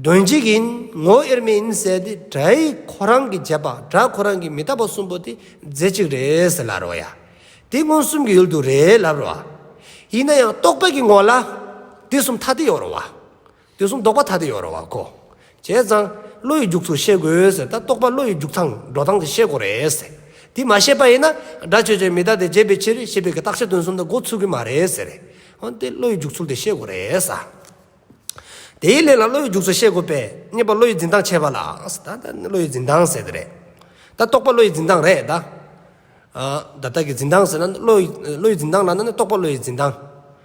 A: དོན་གཅིག་ཡིན་ངོ་བོ་དབྱེར་མེད་ཡིན་ཟེར་ཏེ་སྒྲའི་ཁོ་རང་གི་བརྗེད་པ་སྒྲ་ཁོ་རང་གི་མི་རྟག་པ་གསུམ་པོ་དེ་རྫས་གཅིག་རེད་ཟེར་ལབ་རོགས་ཡ། དེ་མངོན་སུམ་གྱི་ཡུལ་དུ་རེད་ལབ་རོགས། ཡིན་ན་ཡང་རྟོག་པའི་གི་ངོ་ལ། དེ་གསུམ་ཐ་དད་ཡོང་རོགས། དུས་གསུམ་ལྡོག་པ་ཐ་དད་ཡོད་རེད་བ་གོ། བྱས་ཙང། བློ་ཡི་རྒྱུགས་ཚུལ་ཤེས་དགོས་ཟེར་ད་རྟོགས་པ་བློ་ཡི་རྒྱུགས་སྟངས་འགྲོ་སྟངས་དེ་ཤེས་དགོས་རེད་ཟེར། དེ་མ་ཤེས་པ་ཡིན་ན་སྒྲ་ཆོས་ཅན་མི་རྟག་སྟེ་བརྗེད་པའི་ཕྱིར་ཤེས་པའི་གི་རྟགས་ཆ་དོན་གསུམ་དང་འགོ་ཚུགས་གི་མ་རེད་ཟེར། འོན་ཏེ་བློ་ཡི་རྒྱུགས་ཚུལ་དེ་ཤེས་དགོས་རེད་ས། དེའི་ལན་ལ་བློ་ཡི་རྒྱུགས་ཚུལ་ཤེས་དགོས་པས་རྙེད་པ་བློ་ཡི་འཛིན་སྟངས་བྱས་པ་ལ་ཟེར་ད་ད་བློ་ཡི་འཛིན་སྟངས་ཟེར་དེ་རེད། ད་རྟོགས་པ་བློ་ཡི་འཛིན་སྟངས་རེད་ད། ད་ལྟ་གི་འཛིན་སྟངས་ཟེར་ན་བློ་ཡི་འཛིན་སྟངས་ལ་ན་རྟོགས་པ་བློ་ཡི་འཛིན་སྟངས།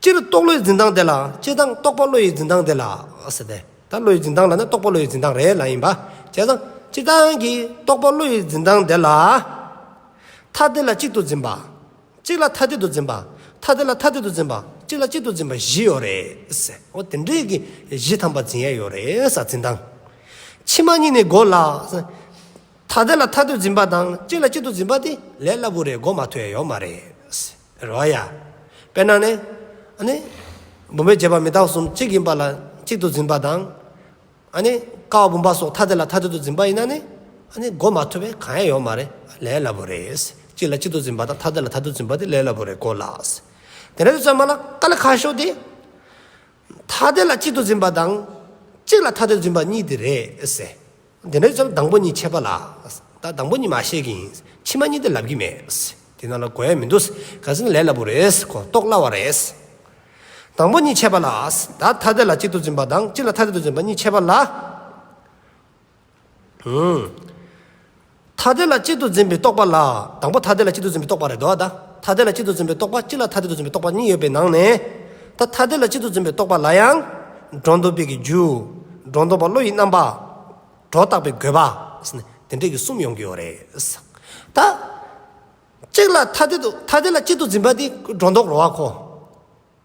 A: སྤྱིར་རྟོག་བློའི་འཛིན་སྟངས་དེ་ལ་སྤྱི་བཏང་རྟོག་པ་བློ་ཡི་འཛིན་སྟངས་དེ་ལ། ཟེར་ཏེ། ད་བློའི་འཛིན་སྟངས་ལ་ནི་རྟོག་པ་བློ་ཡི་འཛིན་སྟངས་རེད་ལ་ཡིན་པ། བྱས་ཙང། སྤྱི་བཏང་གི་རྟོག་པ་བློ་ཡི་འཛིན་སྟངས་དེ་ལ། ཐ་དད་ལ་གཅིག་ཏུ་འཛིན་པ། གཅིག་ལ་ཐ་དད་དུ་འཛིན་པ། ཐ་དད་ལ་ཐ་དད་དུ་འཛིན་པ། གཅིག་ལ་གཅིག་ཏུ་འཛིན་པ་བཞི་ཡོད་རེད། འོ་དེ་འདྲའི་གི་བཞི་ཐམ་པ་འཛིན་ཡས་ཡོད་རེད་ས་འཛིན་སྟངས། ཕྱི་མ་གཉིས་ནི་གོ་སླ། ཐ་དད་ལ་ཐ་དད་འཛིན་པ་དང་གཅིག་ལ་གཅིག་ཏུ་འཛིན་པ་དེ་ལས་སླ་བོ་རེད་གོ་མ་ཐོས་ཡོད་མ་རེད། རེད་བ་ཡ། དཔེར་ན་ནི། ཨ་ནི། བུམ་པའི་བྱེད་པ་མི་རྟག་གསུམ་གཅིག་ཡིན་པ་ལ་གཅིག་ཏུ་འཛིན་པ་དང། ཨ་ནི། ཀ་བ་བུམ་པ་སོགས་ཐ་དད་ལ་ཐ་དད་དུ་འཛིན་པ་ཡིན་ན་ནི། ཨ་ནི། གོ་མ་ཐུབ་པས་གང་ཡང་ཡོད་མ་རེད་ལས་སླ་པོ་རེད། གཅིག་ལ་གཅིག་ཏུ་འཛིན་པ་དང་ཐ་དད་ལ་ཐ་དད་དུ་འཛིན་པ་དེ་ལས་སླ་པོ་རེད་གོ་ལགས། དེ་འདྲ་དུ་བརྩམས་པ་ལ་ཀ་ལ་ཁ་ཤོ་དེ། ཐ་དད་ལ་གཅིག་ཏུ་འཛིན་པ་དང། གཅིག་ལ་ཐ་དད་དུ་འཛིན་པ་གཉིས་དེ་རེད། དེ་འདྲ་ཙམ་དང་པོ་གཉིས་ཆད་པ་ལ། ད་དང་པོ་གཉིས་མ་བཤད་གི་ཡིན། ཕྱི་མ་གཉིས་དེ་ལབ་ཀྱི་མེད། དེ་ནང་ལ་གོ་ཡ་མི་འདུག་ག་ཚད་ནི་ལས་སླ་པོ་རེད་གོ་རྟོགས་སླ་བ་རེད། དང་པོ་གཉིས་ཆད་པ་ལ། ད་ཐ་དད་ལ་གཅིག་ཏུ་འཛིན་པ་དང་གཅིག་ལ་ཐ་དད་དུ་འཛིན་པ་གཉིས་ཆད་པ་ལ། ཐ་དད་ལ་གཅིག་ཏུ་འཛིན་པའི་རྟོག་པ་ལ་དང་པོ་ཐ་དད་ལ་གཅིག་ཏུ་འཛིན་པའི་རྟོག་པ་རེད་དོ། ད་ཐ་དད་ལ་གཅིག་ཏུ་འཛིན་པའི་རྟོག་པ་གཅིག་ལ་ཐ་དད་དུ་འཛིན་པའི་རྟོག་པ་གཉིས་ཡོད་པའི་ནང་ནས། ད་ཐ་དད་ལ་གཅིག་ཏུ་འཛིན་པའི་རྟོག་པ་ལ་ཡང། སྒྲོ་འདོགས་པས་ཀྱི་རྒྱུ། སྒྲོ་འདོགས་པ་བློ་ཡི་རྣམ་པ། སྒྲོ་བཏགས་པའི་དགོས་པ། དེ་འདྲས་ཀྱི་གསུམ་ཡོང་གི་ཡོད་རེད། ད། གཅིག་ལ་ཐ་དད་དུ་ཐ་དད་ལ་གཅིག་ཏུ་འཛིན་པ་དེ་སྒྲོ་འདོགས་རོ་བ་ཁོ།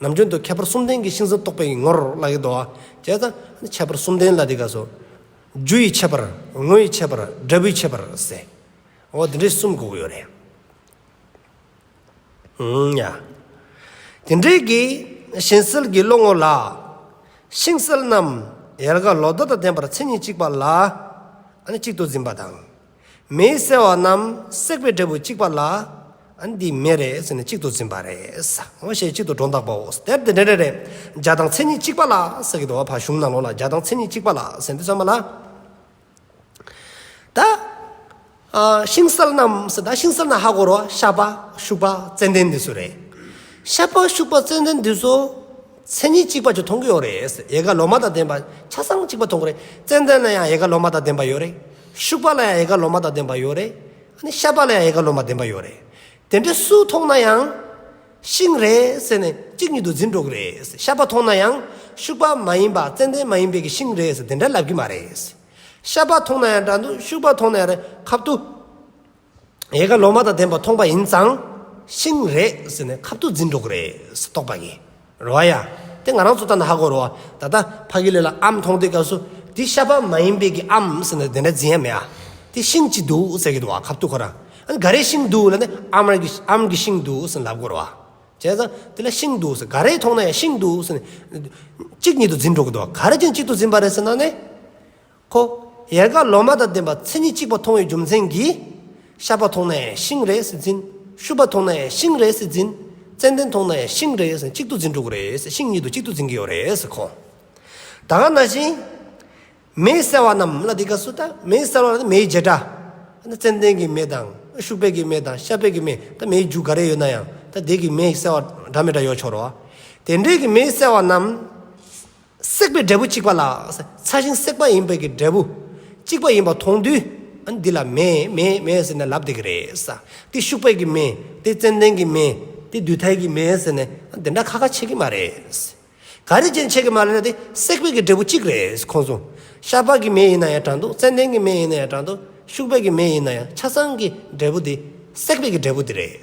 A: ནམ་རྒྱུན་དུ་ཁྱད་པར་གསུམ་ལྡན་གྱི་ཤིང་ཟ་རྟོག་པའི་ངོར་བླ་གའི་རྡོ་བཅས་དང། ཁྱད་པར་གསུམ་ལྡན་ལ་དེ་ཀ་སོགས། རྒྱུ་ཡི་ཁྱད་པར། དངོས་ཡི་ཁྱད་པར། འབྲས་བུའི་ཁྱད་པར། ཟེར། འོ་དེ་འདྲའི་གསུམ་གོ་གི་ཡོད་རེད། ཨང། ཡ། དེ་འདྲའི་དགེ། གཞན་སེལ་གྱི་བློ་ངོར་ལ། ཤིང་སེལ་རྣམས། ཡལ་ག་ལོ་ཟླ་དང་ལྡན་པར་མཚན་ཉིད་གཅིག་པ་ལ། གཅིག་ཏུ་འཛིན་པ་དང། མེའི་གསལ་བ་རྣམས་བསྲེགས་པའི་འབྲས་བུ་གཅིག་པ་ལ། འདི་མེ་རེད་ཟེར་ནས་གཅིག་ཏུ་འཛིན་པ་རེད། ངོ་ཤེས་གཅིག་ཏུ་སྒྲོ་འདག་པའོ། དེར་དེ་འདྲ་རེ་རེ། འཇའ་དང་མཚན་ཉིད་གཅིག་པ་ལ་ཟེར་གྱི་འདུག་བ་ཕ་གཞུང་ནང་ལོགས་ལ་འཇའ་དང་མཚན་ཉིད་གཅིག་པ་ལ་ཟེར་འདུག་ཚོད་མ་ལ། ད། ཤིང་སཱལ་རྣམས་ཟེར་ད་ཤིང་སཱལ་ན་ཧ་གོ་རོ་ཤ་པ་ཤུག་པ་ཙན་དན་འདི་ཚོ་རེད། ཤ་པ་ཤུག་པ་ཙན་དན་འདི་ཚོ། མཚན་ཉིད་གཅིག་པ་ཅིག་མཐོང་གི་ཡོད་རེད། ཡལ་ག་ལོ་མ་དང་ལྡན་པ་ཆ་ཚང་གཅིག་པ་མཐོང་གི་རེད། ཙན་དན་ལ་ཡང་ཡལ་ག་ལོ་མ་དང་ལྡན་པ་ཡོད་རེད། ཤུག་པ་ལ་ཡང་ཡལ་ག་ལོ་མ་དང་ལྡན་པ་ཡོད་རེད། ནི་ཤ་པ་ལ་ཡང་ཡལ་ག་ལོ་མ་ལྡན་པ་ཡོད་རེད། དེ་འདྲ་སུ་མཐོང་ན་ཡང། ཤིང་རེད་ཟེར་ནས་གཅིག་ཉིད་དུ་འཛིན་འགྲོ་གི་རེད། ཤ་པ་མཐོང་ན་ཡང། ཤུག་པ་མ་ཡིན་པ་ཙན་དན་མ་ཡིན་པའི་གི་ཤིང་རེད་ཟེར་དེ་འདྲ་ལབ་གི་མ་རེད། ཤ་པ་མཐོང་ན་ཡང་འདྲ་འདུག་ཤུག་པ་མཐོང་ན་ཡང་རེད་ཁབ་ཏུ། ཡལ་ག་ལོ་མ་དང་ལྡན་པ་མཐོང་པ་ཡིན་ཙང། ཤིང་རེད་ཟེར་ནས་ཁབ་ཏུ་འཛིན་འགྲོ་གི་རེད་ཟེར་རྟོགས་པ་ཡིན། རོ་ཨ་ཡ། དེ་ང་རང་ཚོ་ལྟ་ན་ཧ་གོ་རོ་ཨ། ད་ལྟ་ཕ་གི་ལས་ལ་ཨམ་མཐོང་དུས་སྐབས་སུ། འདི་ཤ་པ་མ་ཡིན་པའི་གི་ཨམ་ཟེར་ནས་དེ་འདྲ་འཛིན་ཡ་མེད་ཨ། དེ་ཤིང་གཅིག་འདུག་ཟེར་གི་འདུག་ཨ་ཁབ་ཏུ་ཁོ་རང། ཨ་འགའ་རེ་ཤིང་འདུག་ལ་ནི་ཨམ་རང་གིས་ཨམ་གྱི་ཤིང་འདུག་ཟེར་ནས་ལབ་གོ་རོ་ཨ། བྱས་ཙང་དེ་ལ་ཤིང་འདུག་ཟེར་ག་རེ་མཐོང་ན་ཡང་ཤིང་འདུག་ཟེར་ནས། གཅིག་ཉིད་དུ་འཛིན་འགྲོ་གི་འདུག་ག་རེ་ཅན་གཅིག་ཏུ་འཛིན་པ་རེད་ཟེར་ན་ནི། ཧོ། ཡལ་ག་ལོ་མ་དང་ལྡན་པ་མཚན་ཉིད་གཅིག་པ་མཐོང་བའི་རྒྱུ་མཚན་གྱིས། ཤ་པ་མཐོང་ནས་ཤིང་རེ་ཟིག་འཛིན། ཤུ་པ་མཐོང་ནས་ཤིང་རེ་ཟིག་འཛིན། ཙནྡན་མཐོང་ནས་ཤིང་རེ་ཟིག་གཅིག་ཏུ་འཛིན་འགྲོ་གི་རེད། ཤིང་གཉིས་དུ་གཅིག་ཏུ་འཛིན་གྱི་ཡོད་རེད་ཁོ། ད་ག་ན་བཞིན། མེ་གསལ་བ་རྣམས་ལ་དེ་ག་སུ་ད་མེ་གསལ་བ་ལ་མེའི་བྱེ་བྲག། ཙནྡན་གྱི་མེ་དང། ཤུ་བད་ཀྱི་མེ་དང་ཤ་བད་ཀྱི་མེ་ད་མེའི་རྒྱུ་ག་རེ་ཡོད་ན་ཡང་ད་དེ་གི་མེ་གསལ་བ་འདྲ་མི་འདྲ་ཡོད་ཆོག་རོ། དེ་འདྲའི་གི་མེ་གསལ་བ་རྣམས། བསྲེགས་པའི་འབྲས་བུ་གཅིག་པ་ལ། ཚ་ཞིང་བསྲེགས་པ་ཡིན་པའི་ཀྱི་འབྲས་བུ། གཅིག་པ་ཡིན་པ་མཐོང་དུས། ཨ་འདི་ལ་མེ། མེ། མེ་ཟེར་ནས་ལབ་དེ་གི་རེད། དེ་ཤུག་པའི་ཀྱི་མེ། དེ་ཙན་དན་གྱི་མེ། དེ་དུས་ཐལ་གྱི་མེ་ཟེར་ནས་ཨ་འདི་འདྲ་ཁ་ཁ་ཆེ་གི་མ་རེད། ག་རེ་ཅན་ཆེ་གི་མ་རེད་ན་དེ་བསྲེགས་པའི་ཀྱི་འབྲས་བུ་གཅིག་རེད་ཁོང་གསུང། ཤ་པགས་ཀྱི་མེ་ཡིན་ན་ཡང་དྲང་འདུག་ཙན་དན་གྱི་མེ་ཡིན་ན་ཡང་དྲང་འདུག་ཤུག་པའི་ཀྱི་མེ་ཡིན་ན་ཡང་ཆ་ཚང་གི་འབྲས་བུ་དེ་བསྲེགས་པའི་ཀྱི་འབྲས་བུ་དེ་རེད།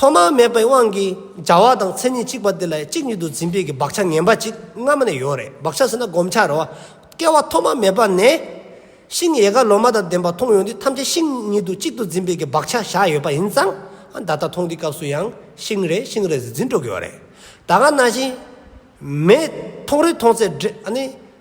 A: ཐོག་མ་མེད་པའི་དབང་གིས་བྱ་བ་དང་མཚན་ཉིད་གཅིག་པ་དེ་ལ་གཅིག་ཉིད་དུ་འཛིན་པའི་གི་བག་ཆགས་ངན་པ་གཅིག་སྔ་མ་ནས་ཡོད་རེད་བག་ཆགས་ཟེར་ན་བསྒོམ་བྱ་རེད་བ། སྐྱེ་བ་ཐོག་མ་མེད་པ་ནས། ཤིང་ཡལ་ག་ལོ་མ་དང་ལྡན་པ་མཐོང་ཡོང་དུས་ཐམས་ཅད་ཤིང་ཉིད་དུ་གཅིག་ཏུ་འཛིན་པའི་གི་བག་ཆགས་བཞག་ཡོད་པ་ཡིན་ཙང་ད་ལྟ་མཐོང་དུས་སྐབས་སུ་ཡང་ཤིང་རེད་ཤིང་རེད་ཟེར་འཛིན་འགྲོ་གི་ཡོད་རེད། ད་སྔ་ན་བཞིན་མེད་མཐོང་རེད་མཐོང་ཚད་འདྲེས་ཨ་ནི།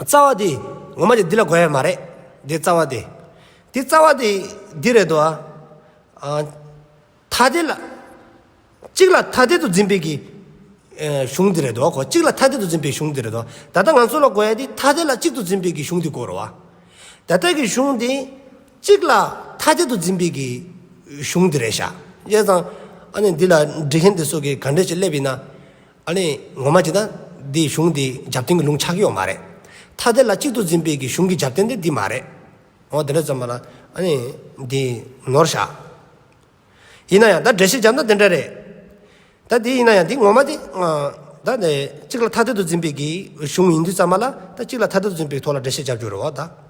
A: རྩ་བ་དེ་ངོ་མ་དེ་འདི་ལ་གོ་ཡ་མ་རེད། འདི་རྩ་བ་དེ། འདི་རྩ་བ་དེ་འདི་རེད་དོ། ཐ་དད་ལ། གཅིག་ལ་ཐ་དད་དུ་འཛིན་པའི་གི། གཞུང་འདི་རེད་དོ་གོ། གཅིག་ལ་ཐ་དད་དུ་འཛིན་པའི་གཞུང་འདི་རེད་དོ། ད་ལྟ་ང་ཚོ་ལ་གོ་ཡ་དེ་ཐ་དད་ལ་གཅིག་ཏུ་འཛིན་པའི་གི་གཞུང་འདི་གོ་རོ། ད་ལྟ་གི་གཞུང་འདི། གཅིག་ལ་ཐ་དད་དུ་འཛིན་པའི་གི། གཞུང་འདི་རེད་ཤག། ཡས་ཙང། ཨ་ནི་འདི་ལ་འབྲི་མཁན་དེ་ཚོ་གི་ག་འདྲས་ཅིག་སླེབས་ཡིན་ན། ཨ་ནི་ངོ་མ་ཇི་ལྟ། འདི་གཞུང་འདི་རྒྱབ་རྟེན་གྱི་ལུང་ཆགས་ཡོད་མ་རེད། ཐ་དད་ལ་གཅིག་ཏུ་འཛིན་པའི་གི་གཞུང་གི་རྒྱབ་རྟེན་དེ་འདི་མ་རེད། འོ་དེ་འདྲ་བརྩམས་པ་ན་ཨ་ནི་འདི་ནོར་བཞག། ཡིན་ན་ཡང་ད་འགྲེལ་བཤད་བརྒྱབ་ན་དེ་འདྲ་རེད། ད་འདི་ཡིན་ན་ཡང་འདི་ངོ་མ་དེ། ད་ནི་གཅིག་ལ་ཐ་དད་དུ་འཛིན་པའི་གི་གཞུང་ཡིན་དུས་བརྩམས་པ་ལ་ད་གཅིག་ལ་ཐ་དད་དུ་འཛིན་པའི་ཐོག་ལ་འགྲེལ་བཤད་བརྒྱབ་རྒྱུ་རེད་བ་ད།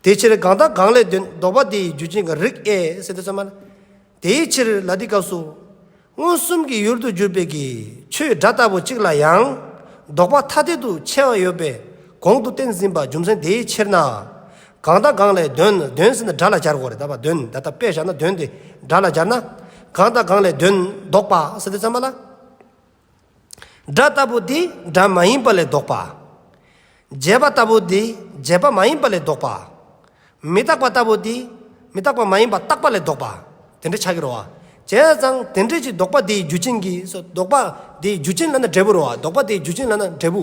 A: དེའི་ཕྱིར་གང་དང་གང་ལས་དོན་ལྡོག་པ་དེའི་རྒྱུ་རྐྱེན་གྱི་རིགས་ཨེ་ཟེར་དུ་བརྩམས་པ། དེའི་ཕྱིར་ལ་འདི་སྐབས་སུ། མངོན་སུམ་གྱི་ཡུལ་དུ་གྱུར་པའི་གྱི་ཆོས་སྒྲ་ལྟ་བུ་གཅིག་ལ་ཡང་ལྡོག་པ་ཐ་དད་དུ་ཕྱེ་བ་ཡོད་པས་གོང་དུ་བསྟན་ཟིན་པ་རྒྱུ་མཚན་དེའི་ཕྱིར་ན། གང་དང་གང་ལས་གདོན་གདོན་ཟེར་ན་སྒྲ་ལ་སྦྱར་དགོས་རེད་དཱ་གདོན་ད་ལྟ་དཔེ་བཞག་ན་གདོན་དེ་སྒྲ་ལ་སྦྱར་ན། གང་དང་གང་ལས་གདོན་ལྡོག་པ་ཟེར་དུས་ཙམ་པ་ལ། སྒྲ་ལྟ་བུ་འདི་སྒྲ་མ་ཡིན་པ་ལས་བཟློག་པ། བརྗེད་པ་ལྟ་བུ་འདི་བརྗེད་པ་མ་ཡིན་པ་ལས་བཟློག་པ། མི་རྟག་པ་ལྟ་བུ་འདི་མི་རྟག་པ་མ་ཡིན་པ་རྟག་པ་ལས་བཟློག་པ། དེ་འདྲ་བྱ་གི་རོ། བྱས་ཙང་དེ་འདྲས་ཀྱི་བཟློག་པ་དེའི་རྒྱུ་ཅན་གྱིས་སོ་བཟློག་པ་དེའི་རྒྱུ་ཅན་ལ་ན་འབྲས་བུ་རོ། བཟློག་པ་དེའི་རྒྱུ་ཅན་ལ་ན་འབྲས་བུ།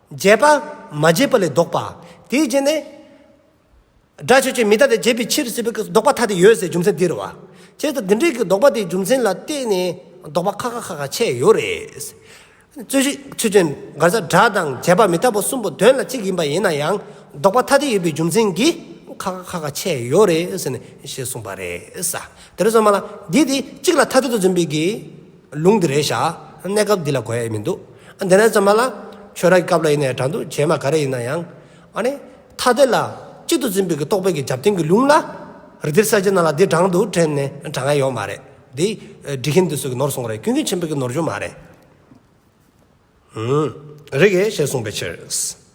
A: བརྒྱད་པ། མ་བརྒྱད་པ་ལས་བཟློག་པ། དེའི་རྗེས་ནས། སྒྲ་ཆོས་ཅན་མི་རྟག་སྟེ་བརྒྱད་པའི་ཕྱིར་སྲིད་པའི་ཀུན་བཟློག་པ་ཐ་དད་ཡོད་ཟེར་རྒྱུ་མཚན་འདི་རུ་བ། བྱས་ཙང་འདི་འདྲའི་ཀུན་བཟློག་པ་དེའི་རྒྱུ་མཚན་ལ་བརྟེན་ནས་བཟློག་པ་ཁ་ཁ་ཁ་ཁ་ཆད་ཡོད་རེད། རྩོད་གཞི། ཆོས་ཅན། འགར་ས་སྒྲ་དང་བརྒྱད་པ་མི་རྟག་པ་གསུམ་པོ་དོན་ལ་གཅིག་ཡིན་པ་ཡིན་ན་ཡང་བཟློག་པ་ཐ་དད་ཡོད་པའི་རྒྱུ་མཚན་གྱིས་ཁ་ཁ་ཁ་ཁ་ཆད་ཡོད་རེད། ཞེས་གསུངས་པ་རེད། དེ་ལས་སོ་མ་ལ། འདི་དེ་གཅིག་ལ་ཐ་དད་དུ་འཛིན་པའི་དགེ། ལུང་དེ་རེད་བཞག་གནས་སྐབས་འདི་ལ་གོ་ཡ་ཡི་མི་འདུག་ཨ་འདི་ནས་བརྩམས་པ་ལ། ཆོས་ར་གི་སྐབས་ལ་ཡིན་ནའི་དྲ་འདུག་བྱེད་མ་ག་རེ་ཡིན་ན་ཡང། ཨ་ནི། ཐ་དད་ལ། གཅིག་ཏུ་འཛིན་པའི་གི་རྟོག་པའི་གི་རྒྱབ་དེང་གི་ལུང་ལ། རི་དེར་ས་ཆེན་ནང་ལ་འདི་དྲང་འདུག་དྲན་ནས་དྲང་ཡ་ཡོག་མ་རེད། འདི། འབྲི་མཁན་དེ་ཚོས་གི་ནོར་སོང་རེད་ཀུན་ཀུན་ཆེན་པོའི་གི་ནོར་འབྱུང་མ་རེད། རེད། ཞེས་གསུངས་པའི་ཕྱིར།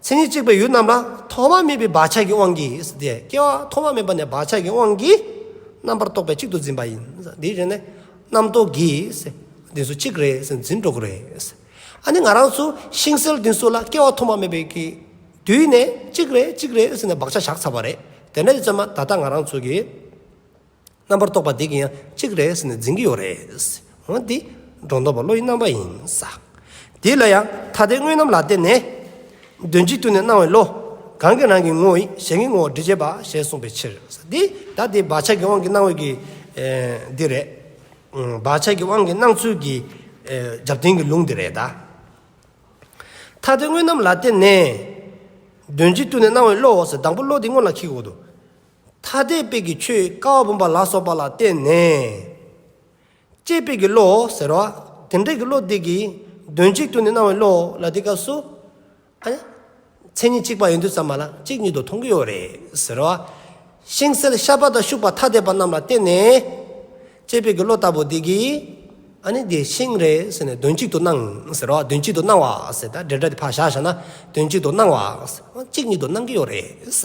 A: མཚན་ཉིད་གཅིག་པའི་ཡུལ་རྣམས་ལ་ཐོག་མ་མེད་པའི་བག་ཆགས་ཀྱི་དབང་གིས་སྟེ་སྐྱེ་བ་ཐོག་མ་མེད་པ་ནས་བག་ཆགས་ཀྱི་དབང་གིས་རྣམ་པར་རྟོག་པའི་གཅིག་ཏུ་འཛིན་པ་ཡིན། དེའི་རྗེས་ནས་རྣམ་རྟོག་གིས་དེ་སུ་གཅིག་རེད་ཟེར་འཛིན་གྲོགས་རེད། ཨ་ནི་ང་རང་ཚོ་ཤིང་སེལ་དེ་སུ་ལ་སྐྱེ་བ་ཐོག་མ་མེད་པའི་གི་དུས་ནས་གཅིག་རེད་གཅིག་རེད་ཟེར་ནས་བག་ཆགས་བཞག་ཚར་བ་རེད། དེ་འདྲ་ཡི་ཚོད་མ་ད་ལྟ་ང་རང་ཚོ་གི། རྣམ་པར་རྟོག་པ་འདི་གིས་ཡང་གཅིག་རེས་ནས་འཛིན་གྱི་ཡོད་རེད། འོན་ཏེ། སྒྲོ་འདོགས་པ་བློ་ཡི་རྣམ་པ་ཡིན། དེ་ལ་ཡང་ཐ་དད་དངོས་རྣམ་ལ་བརྟེན་ནས། དོན་གཅིག་ཏུ་ནི་སྣང་བའི་བློ། གང་གི་རང་གི་ངོ་བོ་ཡིན་གཞན་གྱི་ངོ་བོར་འདྲི་བྱེད་པ་ཞེས་གསུངས་པའི་ཕྱིར། ད་དེ་བག་ཆགས་ཀྱི་དབང་གིས་སྣང་བའི། འདི་རེད། བག་ཆགས་ཀྱི་དབང་གིས་སྣང་ཚུལ་གྱི། རྒྱབ་རྟེན་གྱི་ལུང་འདི་རེད། ཐ་དད་དངོས་རྣམ་ལ་བརྟེན་ནས། དོན་གཅིག་ཏུ་ནི་སྣང་བའི་བློ། དང་པོ་བློ་དེ་སྔོན་ལ་ཁེགས་འོག་ཏུ། ཐ་དད་དཔེ་གྱི་ཆོས་ཀ་བ་བུམ་པ་ལ་སོགས་པ་ལ་བརྟེན་ནས། དཔྱད་དཔེ་གྱི་བློ་ཟེར་རོ། དེ་འབྲེལ་གྱི་བློ་དེ་གིས་དོན་གཅིག་ཏུ་ནི་སྣང་བའི་བློ་ལ་དེ་སྐབས་སུ། མཚན་ཉིད་གཅིག་པ་ཡིན་དུས་ཙམ་མ་ལ་གཅིག་ཉིད་དུ་མཐོང་གི་ཡོད་རེད་ཟེར་རོ། ཤིང་སེལ་ཤ་པ་དང་ཤུག་པ་ཐ་དད་པ་རྣམས་ལ་བརྟེན་ནས། དཔྱད་དཔེ་གྱི་བློ་ལྟ་བུ་དེ་གིས། འདི་ཤིང་རེད་ཟེར་ནས་དོན་གཅིག་ཏུ་སྣང་ཟེར་རོ། དོན་གཅིག་ཏུ་སྣང་བ་ཟེར་ད་འབྲེལ་སྒྲ་དེ་ཕར་བཞག་བཞག་ན་དོན་གཅིག་ཏུ་སྣང་བ། གཅིག་ཉིད་དུ་སྣང་གི་ཡོད་རེད་ས།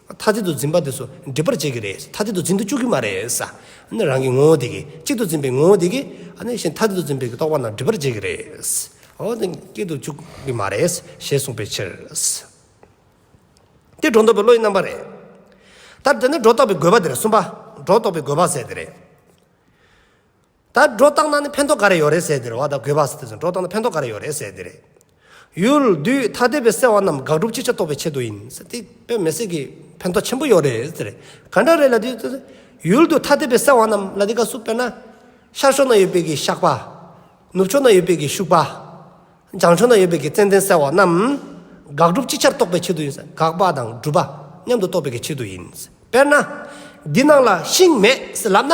A: མཐའ་གཅིག་ཏུ་འཛིན་པ་དེ་ཚོ་འགྲིག་པར་བྱེད་ཀྱི་རེད། མཐའ་གཅིག་ཏུ་འཛིན་དུ་བཅུག་གི་མ་རེད། རང་གི་ངོ་བོ་དེ་གིས་གཅིག་ཏུ་འཛིན་པའི་ངོ་བོ་དེ་གིས་ནི་གཞན་མཐའ་གཅིག་ཏུ་འཛིན་པའི་རྟོག་པ་རྣམས་འགྲིག་པར་བྱེད་ཀྱི་རེད། འོ་དེ་སྐད་དུ་བཅུག་གི་མ་རེད། ཞེས་གསུངས་པའི་ཕྱིར། དེ་སྒྲོ་འདོགས་པའི་བློ་ཡི་རྣམ་པ་རེད། ད་དེ་ནི་སྒྲོ་འདོགས་པའི་དགོས་པ་དེ་རེད་གསུམ་པ། སྒྲོ་འདོགས་པའི་དགོས་པ་ཟེར་དེ་རེད། ད་སྒྲོ་བཏགས་ན་ནི་ཕན་ཐོགས་ག་རེ་ཡོད་རེད་ཟེར་དེར་བ་ད་གོས་བ་སི་དེ་ཚོ་སྒྲོ་བཏགས་ན་ཕན་ཐོགས་ག་རེ་ཡོད་རེད་ཟེར་དེ་རེད། ཡུལ། དུས། ཐ་དད་པའི་སེལ་བ་རྣམས་དགག་སྒྲུབ་ཅི་ཆ་རྟོགས་པའི་ཆེད་དུ་ཡིན། ཟེར་དེ་པས་མེ་སྲེག་གི་ཕན་ཐོགས་ཆེན་པོ་ཡོད་རེད་ཟེར། ག་འདྲ་རེད་ལ་དུས། ཡུལ། དུས། ཐ་དད་པའི་སེལ་བ་རྣམས་ལ་དེ་ག་སུ་དཔེར་ན། ཤར་ཕྱོགས་ན་ཡོད་པའི་གི་བཤགས་པ། ནུབ་ཕྱོགས་ན་ཡོད་པའི་གི་ཤུགས་པ། བྱང་ཕྱོགས་ན་ཡོད་པའི་གི་ཙན་དན་སེལ་བ་རྣམས། དགག་སྒྲུབ་ཅི་ཆར་རྟོགས་པའི་ཆེད་དུ་ཡིན། དགག་པ་དང་སྒྲུབ་པ་མཉམ་དུ་རྟོགས་པའི་གི་ཆེད་དུ་ཡིན། དཔེར་ན། འདི་ནང་ལ་ཤིང་མེད་ཟེར་ལབ་ན།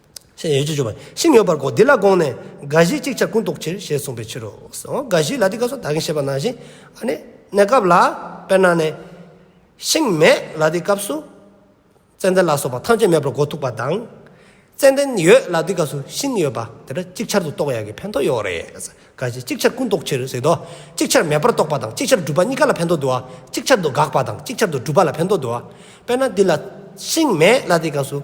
A: ཞེས་ཡོ་བྱད་བྱུག་པ་ཤིང་ཡོད་པར་གོ་འདི་ལ་དགོངས་ནས་དགའ་བཞིའི་ཅིག་ཆར་ཀུན་རྟོག་ཕྱིར་ཞེས་གསུངས་པའི་ཕྱིར་རོ། དགའ་བཞིའི་ལ་དེ་སྐབས་སུ་ད་གིན་ཞེས་པ་ནང་བཞིན་གནས་སྐབས་ལ། དཔེར་ན་ནས། ཤིང་མེད་ལ་དེ་སྐབས་སུ། ཙནྡན་ལ་སོགས་པ་ཐམས་ཅད་མེད་པར་གོ་ཐུག་པ་དང། ཙནྡན་ཡོད་ལ་དེ་སྐབས་སུ་ཤིང་ཡོད་པ་དེ་འདྲ་ཅིག་ཆར་དུ་རྟོགས་ཡག་གི་ཕན་ཐོགས་ཡོད་རེད། དགའ་བཞིའི་ཅིག་ཆར་ཀུན་རྟོག་ཕྱིར་ཟེར་དོ། ཅིག་ཆར་མེད་པར་རྟོགས་པ་དང་ཅིག་ཆར་སྒྲུབ་པ་གཉིས་ཀ་ལ་ཕན་ཐོགས་འདུག་ཨ། ཅིག་ཆར་དུ་དགག་པ་དང་ཅིག་ཆར་དུ་སྒྲུབ་པ་ལ་ཕན་ཐོགས་འདུག་ཨ། དཔེར་ན་འདི་ལ། ཤིང་མེད་ལ་དེ་སྐབས་སུ།